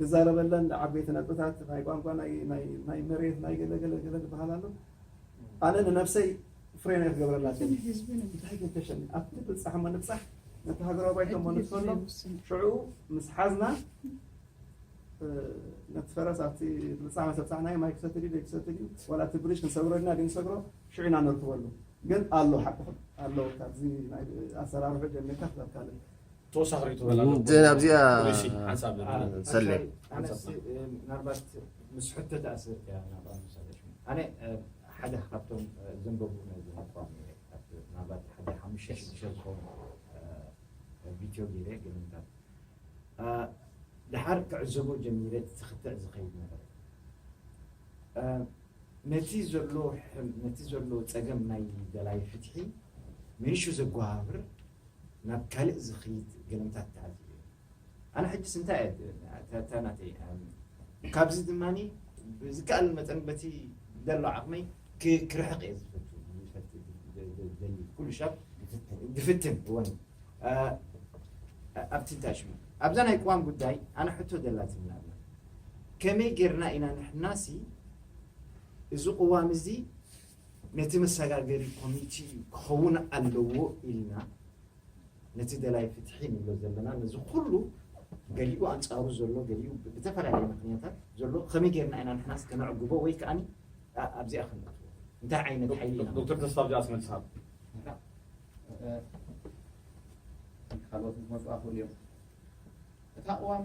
Speaker 2: ድዛረበለን ዓበይቲ ነጥብታት ናይ ቋንቋ ናይ መሬት ናይ ገለ ገለ ገለ ድበሃል ኣሎ ኣነ ንነብሰይ ፍሬም እየ ክገብረላ እቲ ህዝቢ ንምንታይ ገደሸኒ ኣብቲ ብፃሕ እሞ ንብፃሕ ነቲ ሃገራዊ ባይቶ እሞ ንትፈሎ ሽዑ ምስ ሓዝና ነቲ ፈረስ ኣብቲ ብፃሕ መሰብፃሕናዮ ማይ ክሰቲ ድዩ ዘይክሰቲ ድዩ ዋላ እቲ ብሪጅ ክንሰግሮ ድና ድንሰግሮ ሽዑ ኢና ነርክበሉ ግን ኣሎ ሓቅኹም ኣሎ ካብዚ ኣሰራርሑ ጀሚርካ ክሳብ ካልእ ተወሳኺ
Speaker 1: ሪኢቶ በላ
Speaker 4: ኣለዎ
Speaker 1: ዘን ኣብዚኣ
Speaker 4: ፖሊሲ ሓንሳብ ዝብል ሰሌ
Speaker 5: ኣነስ ምናልባት ምስ ሕቶ ተኣስርት እያ ናብኣ ምሳለሽ ኣነ ሓደ ካብቶም ዘንበቡ ናይ ዝነበኳም ምናልባት ሓደ ሓሙሽተ ሽዱሽተ ዝኾኑ ቪድዮ ገይረ ገለምታት ድሓር ክዕዘቦ ጀሚረ ዝኽትዕ ዝኸይድ ነበረ ነቲ ዘሎ ነቲ ዘሎ ፀገም ናይ ደላይ ፍትሒ ምንሹ ዘጓሃብር ናብ ካልእ ዝኽይድ ገምታት ተኣልዩ ነይሩ። ኣነ ሕጂስ እንታይ እየ ትብል እታ ናተይ ኣእምሮ። ካብዚ ድማ ብዝከኣል መጠን በቲ ደሎ ዓቕመይ ክርሕቕ እየ ዝፈቱ ዝደሊ ኩሉ ሻብ ዝፍትን እወን ኣብቲ እንታይ ሽሙ ኣብዛ ናይ ቅዋም ጉዳይ ኣነ ሕቶ ደላትኒ ኣላ ከመይ ጌርና ኢና ንሕናሲ እዚ ቅዋም እዚ ነቲ መሰጋገሪ ኮሚቲ ክኸውን ኣለዎ ኢልና ነቲ ደላይ ፍትሒ ንብሎ ዘለና ነዚ ኩሉ ገሊኡ ኣንጻሩ ዘሎ ገሊኡ ብተፈላለየ ምክንያታት ዘሎ ከመይ ጌርና ኢና ንሕናስ ከነዕግቦ ወይ ከኣኒ ኣብዚኣ ክንኣትዎ እንታይ ዓይነት ሓይሊ ኢና ዶክተር ተስፋ ኣብዚኣስ መልሲ
Speaker 1: ሃብ ካልኦት ክመፁ ኣኽእሉ
Speaker 5: እዮም እቲ ኣቕዋም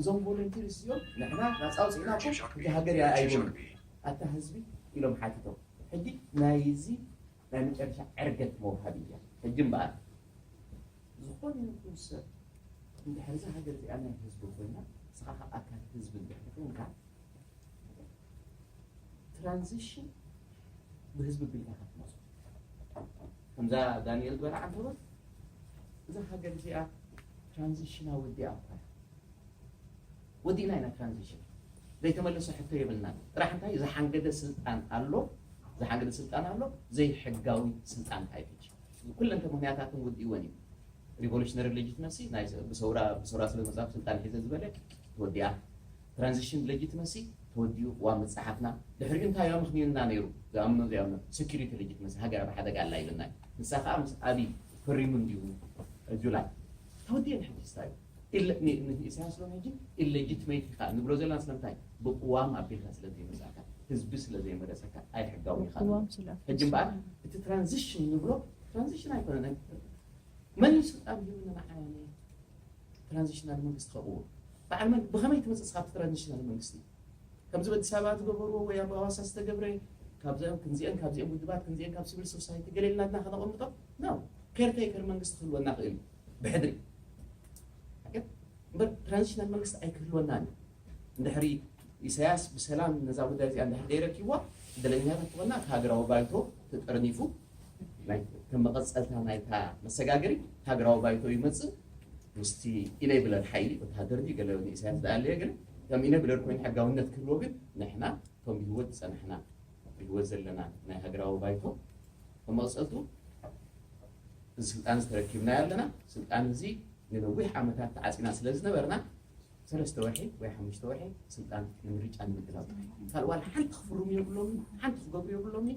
Speaker 5: እዞም ቮለንቲርስ እዚኦም ንሕና ናፃ ኣውፂእናኩም እታ ሃገር እያ ኣይበሉን ኣታ ህዝቢ ኢሎም ሓቲቶም ሕጂ ናይዚ ናይ መጨረሻ ዕርገት መውሃቢ እያ ሕጂ እምበኣር ዝኾነ ይኹን ሰብ እንድሕር እዛ ሃገር እዚኣ ናይ ህዝቢ ኮይና ንስኻ ካብ ኣካል ህዝቢ እንድሕር ኮይንካ ትራንዚሽን ብህዝቢ ቢልካ ክትመፁ ከምዛ ዳንኤል በርዓ እንተበል እዛ ሃገር እዚኣ ትራንዚሽና ወዲኣ እኳ ወዲእና ኢና ትራንዚሽን ዘይተመለሰ ሕቶ የብልና ጥራሕ እንታይ ዝሓንገደ ስልጣን ኣሎ ዝሓንገደ ስልጣን ኣሎ ዘይሕጋዊ ስልጣን ካይፈች ኩለንተ ምክንያታትን ውዲእወን እዩ ሪቮሉሽነሪ ሌጂትመሲ ብሰውራ ብሰውራ ስለመፃፍ ስልጣን ሒዘ ዝበለ ወዲኣ ትራንዚሽን ለጂትመሲ ተወዲኡ ቅዋም ምጽሓፍና ድሕሪኡ እንታይ ኣምኽኒዩና ነይሩ ዝኣምኖ ዘይኣምኖ ሰኪሪቲ ለጂትመሲ ሃገር ኣብ ሓደጋ ኣላ ኢሉና እዩ ንሳ ከኣ ምስ ኣብይ ፈሪሙ እንድዩ ጁላይ ተወዲኡን ሕጂስ እንታይ እዩ ንኢሳያስ ሎሚ ሕጂ ኢለጂትመይት ኢኻ ንብሎ ዘለና ስለምንታይ ብቅዋም ኣቢልካ ስለ ዘይመጻእካ ህዝቢ ስለ ዘይመረጸካ ኣይሕጋዊ ኢኻ ሕጂ እምበኣር እቲ ትራንዚሽን ንብሎ ትራንዚሽን ኣይኮነ መን እዩ ስልጣን ሂቡና ንዓና ትራንዚሽናል መንግስቲ ከቕውም በዓል መን ብኸመይ ትመጽእ እስኻ ኣብቲ ትራንዚሽናል መንግስቲ ከምዚ በዲስ ኣበባ ትገበርዎ ወይ ኣብ ኣዋሳ ዝተገብረ ካብዚኦም ክንዚኦም ካብዚኦም ውድባት ክንዚኦም ካብ ሲቪል ሶሳይቲ ገለ ኢልና ድና ከነቐምጦ ነው ኬር ቴከር መንግስቲ ክህልወና ክእል እዩ ብሕድሪ ኣገብ እምበር ትራንዚሽናል መንግስቲ ኣይክህልወናን እዩ እንድሕሪ ኢሳያስ ብሰላም ነዛ ጉዳይ እዚኣ እንድሕር ደይረኪብዋ ዕድለኛታት ትኾና እቲ ሃገራዊ ባይቶ ተጠርኒፉ ከም መቐፀልታ ናይታ መሰጋገሪ ሃገራዊ ባይቶ ይመፅእ ምስቲ ኢነብለር ሓይሊ ወተሃደር ድዩ ገለ ንኢሳያስ ዝኣለየ ግን ከም ኢነብለር ኮይኑ ሕጋውነት ክህልዎ ግን ንሕና እቶም ብህይወት ዝጸናሕና ብህይወት ዘለና ናይ ሃገራዊ ባይቶ እቶም መቕጸልቱ እዚ ስልጣን እዚ ተረኪብናዮ ኣለና ስልጣን እዚ ንነዊሕ ዓመታት ተዓጺና ስለ ዝነበርና ሰለስተ ወርሒ ወይ ሓሙሽተ ወርሒ ስልጣን ንምርጫ ንምድላው ካልእ ዋላ ሓንቲ ክፍርሙ የብሎምን ሓንቲ ክገብሩ የብሎምን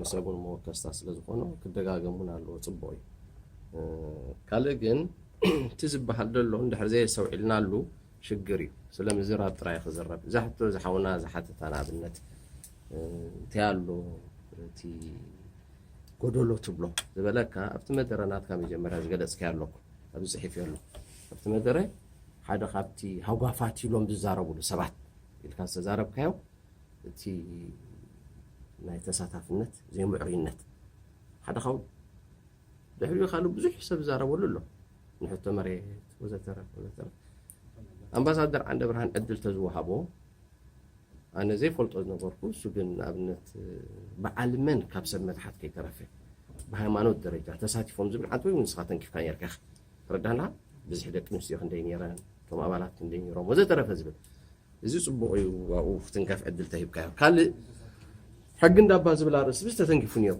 Speaker 4: ንሰብውን መወከስታ ስለ ዝኾኖ ክደጋገም እውን ኣለዎ ፅቡቕ እዩ ካልእ ግን እቲ ዝበሃል ዘሎ እንድሕር ዘየሰውዒልናሉ ሽግር እዩ ስለ ምዝራብ ጥራይ ክዝረብ እዛ ሕቶ ዝሓውና ዝሓተታ ንኣብነት እንታይ ኣሎ እቲ ጎደሎ ትብሎ ዝበለካ ኣብቲ መደረ ናትካ መጀመርያ ዝገለፅከ ኣለኩ ኣብዚ ፅሒፍ ኣሎ ኣብቲ መደረ ሓደ ካብቲ ሃጓፋት ኢሎም ዝዛረብሉ ሰባት ኢልካ ዝተዛረብካዮ እቲ ናይ ተሳታፍነት ዘይምዕሩይነት ሓደ ኸውን ድሕሪኡ ካልእ ብዙሕ ሰብ ዝዛረበሉ ኣሎ ንሕቶ መሬት ወዘተረፍ ወዘተረፍ ኣምባሳደር ዓንደ ብርሃን ዕድል ተዝወሃቦ ኣነ ዘይፈልጦ ዝነበርኩ እሱ ግን ንኣብነት በዓል መን ካብ ሰብ መትሓት ከይተረፈ ብሃይማኖት ደረጃ ተሳቲፎም ዝብል ዓንተ ወይ ንስኻ ተንኪፍካ ነርካ ትረዳና ብዝሒ ደቂ ኣንስትዮ ክንደይ ነይረን እቶም ኣባላት ክንደይ ነይሮም ወዘተረፈ ዝብል እዚ ጽቡቕ እዩ ኣብኡ ክትንከፍ ዕድል ተሂብካዮ። ካልእ ሕጊ እንዳባ ዝብል ኣርእስቲ ብዚ ተተንኪፉ ነይሩ።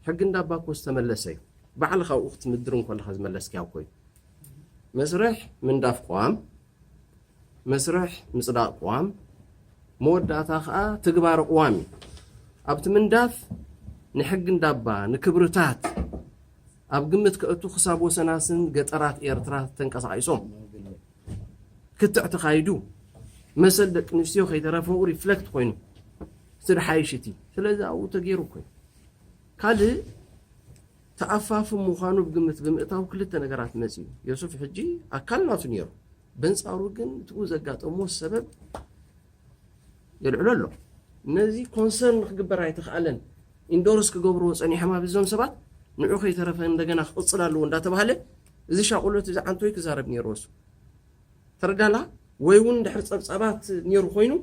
Speaker 4: ሕጊ እንዳባ እኮ ዝተመለሰ እዩ። ባዕልኻ ኣብኡ ክትምድር እንከለኻ ዝመለስካዮ እኮ እዩ። መስርሕ ምንዳፍ ቅዋም፣ መስርሕ ምጽዳቕ ቅዋም፣ መወዳእታ ከዓ ትግባረ ቅዋም እዩ። ኣብቲ ምንዳፍ ንሕጊ እንዳባ ንክብርታት ኣብ ግምት ከእቱ ክሳብ ወሰናስን ገጠራት ኤርትራ ተንቀሳቒሶም ክትዕ ተኻይዱ መሰል ደቂ ኣንስትዮ ከይተረፈኡ ሪፍለክት ኮይኑ ስድሓይሽ እቲ ስለዚ ኣብኡ ተገይሩ ኮይኑ ካልእ ተኣፋፊ ምዃኑ ብግምት ብምእታው ክልተ ነገራት መፅዩ ዮሱፍ ሕጂ ኣካል ናቱ ነይሩ በንፃሩ ግን እትኡ ዘጋጠሞ ሰበብ የልዕሎ ኣሎ ነዚ ኮንሰርን ክግበር ኣይተኽኣለን ኢንዶርስ ክገብርዎ ፀኒሖም ኣብ እዞም ሰባት ንዑ ከይተረፈ እንደገና ክቕፅል ኣለዎ እንዳተባሃለ እዚ ሻቁሎት እዚ ዓንቶይ ክዛረብ ኔርዎ ሱቅ ተረዳላ ወይ ውን ድሕሪ ጸብጻባት ኔሩ ኮይኑ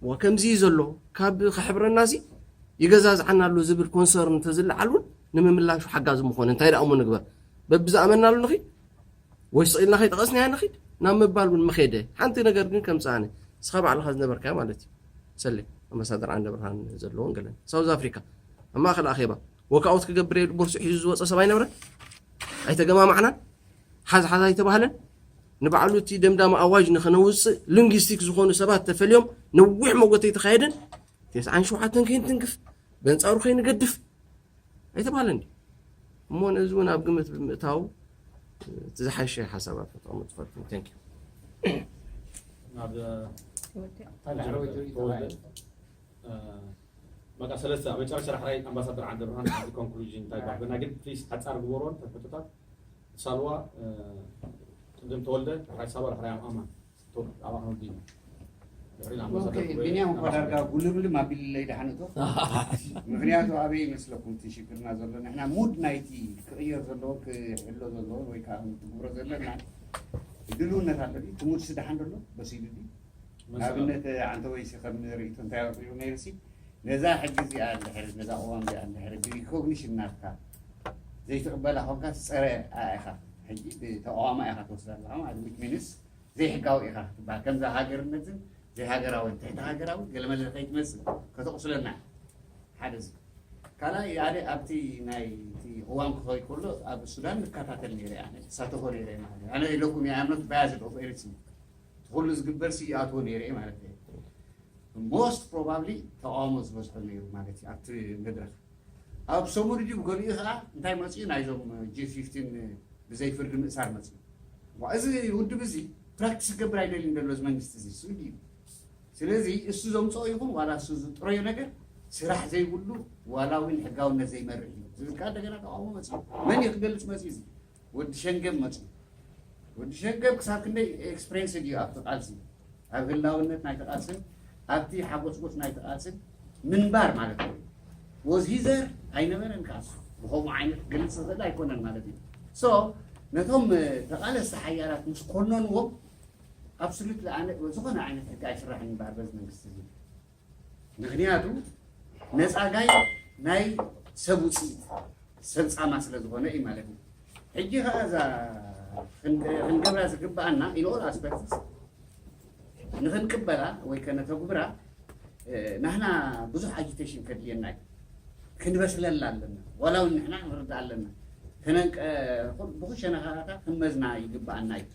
Speaker 4: እዋ ከምዚ እዩ ዘሎ ካብ ክሕብረና ሲ ይገዛዝዓና ኣሎ ዝብል ኮንሰርን እንተዝለዓል ውን ንምምላሹ ሓጋዚ ምኾነ እንታይ ደኣ እሞ ንግበር በብዝኣመናሉ ንኺድ ወይ ስቕ ኢልና ከይጠቐስናያ ንኺድ ናብ ምባል ውን ምኼደ ሓንቲ ነገር ግን ከምጽእ ኣነ ንስኻ ባዕልኻ ዝነበርካዮ ማለት እዩ ሰሌ ኣምባሳደር ዓንደ ብርሃን ዘለዎን ገለን ሳውዝ ኣፍሪካ ኣብ ማእኸል ኣኼባ ዎክኣውት ክገብር እየ ኢሉ ቦርሱኡ ሒዙ ዝወፀ ሰብ ኣይነበረን። ኣይተገማማዕናን፣ ሓዝ ሓዝ ኣይተባህለን። ንባዕሉ እቲ ደምዳሚ ኣዋጅ ንኸነውፅእ ሊንግስቲክ ዝኾኑ ሰባት ተፈልዮም ነዊሕ መጎተ ኣይተኻየደን። ቴስዓን ሸውዓተን ከይንትንክፍ በንፃሩ ከይንገድፍ ኣይተባህለን ድዩ? እሞ ነዚ እውን ኣብ ግምት ብምእታው እቲ ዝሓሸ ሓሳባት ከተቐምጡ ትፈልጡ ተንክ ናብ
Speaker 1: በቃ ሰለስተ ኣብ መጨረሻ ዳሕራይ ኣምባሳደር ዓንደብርሃን ኣብዚ ኮንክሉዥን እንታይ ባዕልና ግን ፕሊስ ሓጻር ግበሮ እንተ ሕቶታት ሳልዋ ቅድም ተወልደ ዳሕራይ ሳባ ዳሕራይ ኣማን ቶብ ኣብ ኣክኖዲ ኢና ድሕሪ ኦኬ ኣምባሳደር
Speaker 10: ጉበኤ ቢንያም እኳ ኣምባሳደር ዳርጋ ጉልብልም ኣቢልለይ ደሓንቶ ምክንያቱ ኣበይ ይመስለኩም እቲ ሽግርና ዘሎ ንሕና ሙድ ናይቲ ክቕየር ዘለዎ ክሕሎ ዘለዎ ወይ ከዓ ትግብሮ ዘለና ድልውነት ኣሎ ድዩ? እቲ ሙድሲ ደሓን ደሎ በሲሉ ድዩ ንኣብነት ዓንተወይሲ ከም ርእይቶ እንታይ ኣቕሪቡ ነይሩሲ ነዛ ሕጊ እዚኣ እንድሕሪ ነዛ ቅዋም እዚኣ እንድሕሪ ብሪኮግኒሽን ናትካ ዘይትቕበላ ኮንካ ጸረ ኢኻ ሕጂ ብተቃዋማ ኢኻ ትወስዳ ኣለኻ ማለት ዊች ሚንስ ዘይሕጋዊ ኢኻ ክትበሃል ከምዛ ሃገርነትን ዘይሃገራዊ ትሕቲ ሃገራዊ ገለመለ ከይትመስል ከተቕስለና ሓደ እዚ ካልኣይ ኣደ ኣብቲ ናይ ቅዋም ክኸይ ከሎ ኣብ ሱዳን ንከታተል ነይረ ኣነ ተሳተፎ ነይረ ማለት ኣነ ኢለኩም የኣምኖት ባያዝድ ኦፍ ኤሪትሪ እቲ ኩሉ ዝግበር ሲ ይኣትዎ ነይረ ማለት ዶ ሞስት ፕሮባብሊ ተቃውሞ ዝበዝሖ ነይሩ ማለት እዩ ኣብቲ መድረክ ኣብ ሰሙን ድዩ ብገሊኡ ከዓ እንታይ መፅኡ ናይዞም ጂ ፊፍቲን ብዘይ ፍርዲ ምእሳር መፅኡ እዚ ውድብ እዚ ፕራክቲስ ክገብር ኣይደልን ዘሎ እዚ መንግስቲ እዚ እሱ ድዩ ስለዚ እሱ ዘምፅኦ ይኹን ዋላ እሱ ዝጥረዮ ነገር ስራሕ ዘይብሉ ዋላ እውን ሕጋውነት ዘይመርሕ እዩ ዝብል ከዓ እንደገና ተቃውሞ መፅኡ መን እዩ ክገልፅ መፅኡ እዚ ወዲ ሸንገል መጽዩ። ወዲ ሸንገል ክሳብ ክንደይ ኤክስፕሬንስድ እዩ ኣብቲ ቃልሲ፣ ኣብ ህላውነት ናይቲ ቃልስን ኣብቲ ሓጎጽጎጽ ናይቲ ቃልስን ምንባር ማለት እዩ። ወዝ ሂ ዘር ኣይነበረን ቃልሱ ብኸምኡ ዓይነት ክገልጽ ዝኽእል ኣይኮነን ማለት እዩ። ሶ ነቶም ተቓለስቲ ሓያላት ምስ ኮነንዎም ኣብሶሉትሊ ኣነ ዝኾነ ዓይነት ሕጊ ኣይስራሕን ይበሃል በዚ መንግስቲ እዚ። ምኽንያቱ ነፃጋይ ናይ ሰብ ውፅኢት ሰብ ፃማ ስለ ዝኾነ እዩ ማለት እዩ። ሕጂ ከዓ እዛ ክንገብራ ዝግብኣና ኢንኦል ኣስፐክትስ ንክንቅበላ ወይ ከነተጉብራ ናህና ብዙሕ ኣጂቴሽን ከድልየና እዩ። ክንበስለላ ኣለና ዋላ እውን ንሕና ክንርዳእ ኣለና ብኩሸነኻታ ክንመዝና ይግብኣና እዩ።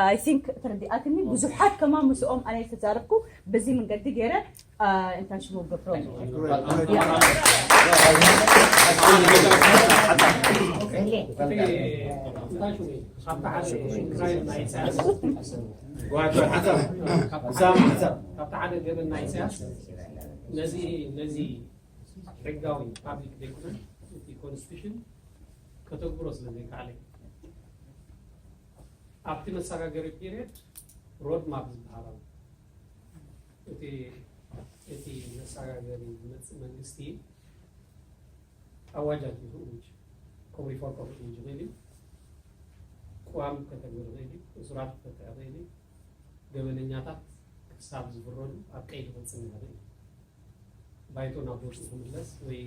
Speaker 8: ኣይ ቲንክ ተረዲኣትኒ ብዙሓት ከማ ምስኦም ኣነ ዝተዛረብኩ በዚ መንገዲ ገይረ እንታይ ሽሙ ገብሮ ሕጋዊ ፓብሊክ
Speaker 6: ዶክመንት ኮንስቲቱሽን ከተግብሮ ስለ ዘይከኣለ ኣብቲ መሰጋገሪ ፒሪየድ ሮድ ማፕ ዝበሃል ኣሎ። እቲ እቲ መሰጋገሪ ዝመፅእ መንግስቲ ኣዋጃት ይእውጅ ከም ሪፎርም ክእውጅ ይኽእል እዩ። ቅዋም ከተግብር ይኽእል እዩ። እሱራት ክፈትሕ ይኽእል እዩ። ገበነኛታት ክሳብ ዝፍረዱ ኣብ ቀይዲ ክፅንሕ ይኽእል እዩ። ባይቶ ናብ ቦትኡ ክምለስ ወይ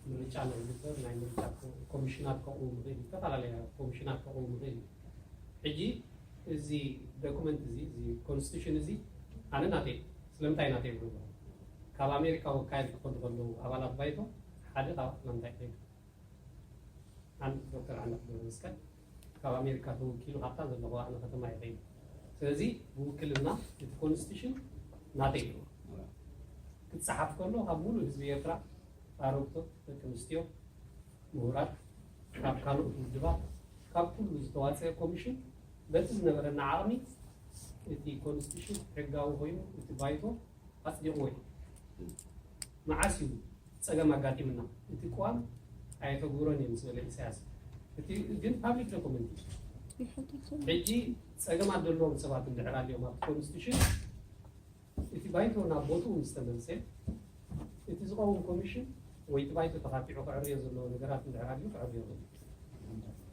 Speaker 6: ምርጫ ንክግበር ናይ ምርጫ ኮሚሽናት ከቕውም ይኽእል እዩ። ዝተፈላለያ ኮሚሽናት ከቕውም ይኽእል እዩ። ሕጂ እዚ ዶክመንት እዚ እዚ ኮንስቲቱሽን እዚ ኣነ ናተይ እዩ። ስለምንታይ ናተይ ይብሉ ኣለኹ? ካብ ኣሜሪካ ወካይል ክኸዱ ከለዉ ኣባላት ባይቶ ሓደ ካብ ኣትላንታ ይኸይዱ። ኣን ዶክተር ዓንዳፍ ገብረመስቀል ካብ ኣሜሪካ ተወኪሉ ካብታ ዘለኹ ኣነ ከተማ ይኸይድ ስለዚ ብውክልና እቲ ኮንስቲቱሽን ናተይ እዩ ክፀሓፍ ከሎ ካብ ሙሉእ ህዝቢ ኤርትራ ኣረግቶት ደቂ ኣንስትዮ ምሁራት ካብ ካልኦት ውድባት ካብ ኩሉ ዝተዋፀ ኮሚሽን በቲ ዝነበረና ዓቕሚ እቲ ኮንስቲቱሽን ሕጋዊ ኮይኑ እቲ ባይቶ ኣፅዲቕዎ እዩ። መዓስ እዩ ፀገም ኣጋጢሙና እቲ ቅዋም ኣየተግብሮን እየ ምስ በለ ኢሳያስ እቲ ግን ፓብሊክ ዶኩመንት እዩ። ሕጂ ፀገማት ዘለዎም ሰባት እንድሕር ኣልዮም ኣብቲ ኮንስቲቱሽን እቲ ባይቶ ናብ ቦትኡ ምስ ተመልሰ እቲ ዝቐውም ኮሚሽን ወይ እቲ ባይቶ ተኻቲዑ ክዕርዮ ዘለዎ ነገራት እንድሕር ኣልዩ ክዕርዮ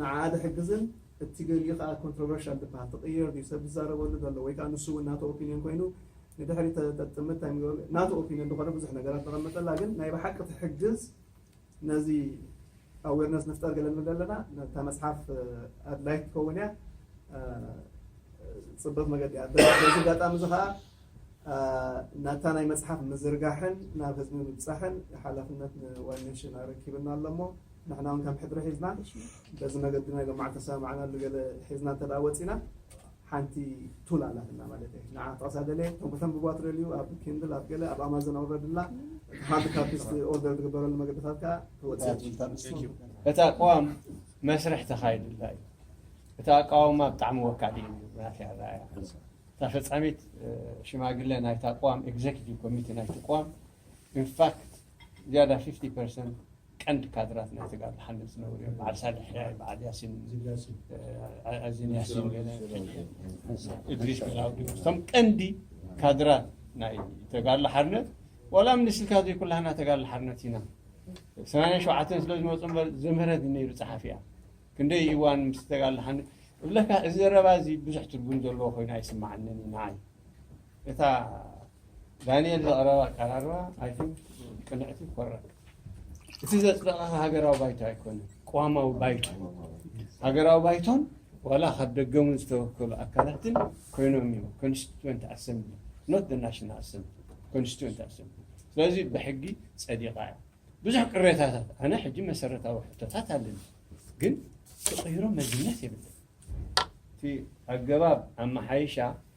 Speaker 2: ንዓኣ ዝሕግዝን እቲ ገሊኡ ከኣ ኮንትሮቨርሻል ዝበሃል ትቕየር ድዩ ሰብ ዝዛረበሉ ዘሎ ወይ ከኣ ንሱ ውን ናቱ ኦፒንዮን ኮይኑ ንድሕሪት ተጠጥምት ታይ ምግባር ናቱ ኦፒንዮን ዝኾነ ብዙሕ ነገራት ዘቐመጠላ ግን ናይ ብሓቂ ትሕግዝ ነዚ ኣዌርነስ ንፍጠር ገለ ንብል ኣለና ነታ መጽሓፍ ኣድላይት ትኸውን እያ ጽብቕቲ መገዲ እያ በዚ ኣጋጣሚ እዚ ከኣ ናታ ናይ መጽሓፍ ምዝርጋሕን ናብ ህዝቢ ምብጻሕን ሓላፍነት ንዋን ኔሽን ኣረኪብና ኣሎ እሞ ንሕና ውን ከም ሕድሪ ሒዝና በዚ መገዲ ናይ ሎምዓል ተሰማማዕናሉ ገለ ሒዝና እንተ ደኣ ወጺእና ሓንቲ ቱል ኣላትና ማለት እየ ንዓ ክትቐሳ ደልየ እቶም ከተንብቧ ትደልዩ ኣብ ኪንድል ኣብ ገለ ኣብ ኣማዞን ኣውረድላ ሃርድ ካፒስ ኦርደር ዝግበረሉ መገድታት ከዓ ተወጽእ
Speaker 5: እታ ቅዋም መስርሕ ተኻይድላ እዩ እቲ ኣቃውማ ብጣዕሚ ወካሊ እዩ ናት ራያ እታ ፈፃሚት ሽማግለ ናይታ ቅዋም ኤግዜኪቲቭ ኮሚቴ ናይቲ ቅዋም ኢንፋክት
Speaker 10: ዝያዳ 50 ፐርሰንት ቀንዲ ካድራት ናይ ተጋሩ ሓንት ዝነበሩ እዮም በዓል ሳልሕ ሕያይ በዓል ያሲን ኣዚን ያሲን ገለ እድሪስ ገላውዲ እቶም ቀንዲ ካድራት ናይ ተጋድሎ ሓርነት ዋላ ምንስልካ ዘይኩላህና ተጋድሎ ሓርነት ኢና ሰማንያ ሸውዓተን ስለ ዝመፁ እምበር ዘምህረት ነይሩ ፀሓፊ እያ ክንደይ እዋን ምስ ተጋድሎ ሓርነት እብለካ እዚ ዘረባ እዚ ብዙሕ ትርጉም ዘለዎ ኮይኑ ኣይስማዓንን እዩ ንዓይ እታ ዳኒኤል ዘቕረባ ኣቀራርባ ኣይ ቲንክ ቅንዕቲ ኮራ እቲ ዘፅደቐ ሃገራዊ ባይቶ ኣይኮነን፣ ቅዋማዊ ባይቶ ሃገራዊ ባይቶን ዋላ ካብ ደገ እውን ዝተወከሉ ኣካላትን ኮይኖም እዮም ኮንስቲትዌንት ኣሰምብሊ ኖት ናሽናል ኣሰምብሊ ኮንስቲትዌንት ኣሰምብሊ። ስለዚ ብሕጊ ፀዲቓ እያ። ብዙሕ ቅሬታታት ኣነ ሕጂ መሰረታዊ ሕቶታት ኣለኒ፣ ግን ክቕይሮ መዝነት የብለን እቲ ኣገባብ ኣመሓይሻ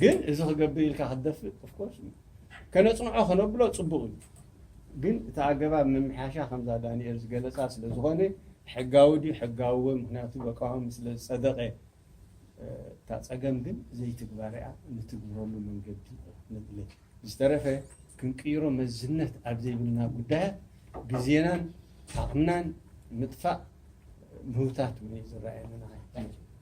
Speaker 10: ግን እዚ ክገብር ኢልካ ክትደፍእ of course እዩ ከነጽንዖ ከነብሎ ጽቡቕ እዩ ግን እቲ ኣገባብ ምምሕያሻ ከምዛ ዳንኤል ዝገለጻ ስለ ዝኾነ ሕጋዊ ድዩ ሕጋዊ ወይ ምክንያቱ በቃዋሚ ስለ ዝጸደቐ እታ ጸገም ግን ዘይትግባርያ ንትግብረሉ መንገዲ ንድለ ዝተረፈ ክንቅይሮ መዝነት ኣብ ዘይብልና ጉዳያት ግዜናን ዓቕምናን ምጥፋእ ምህውታት እውን ዝረኣየና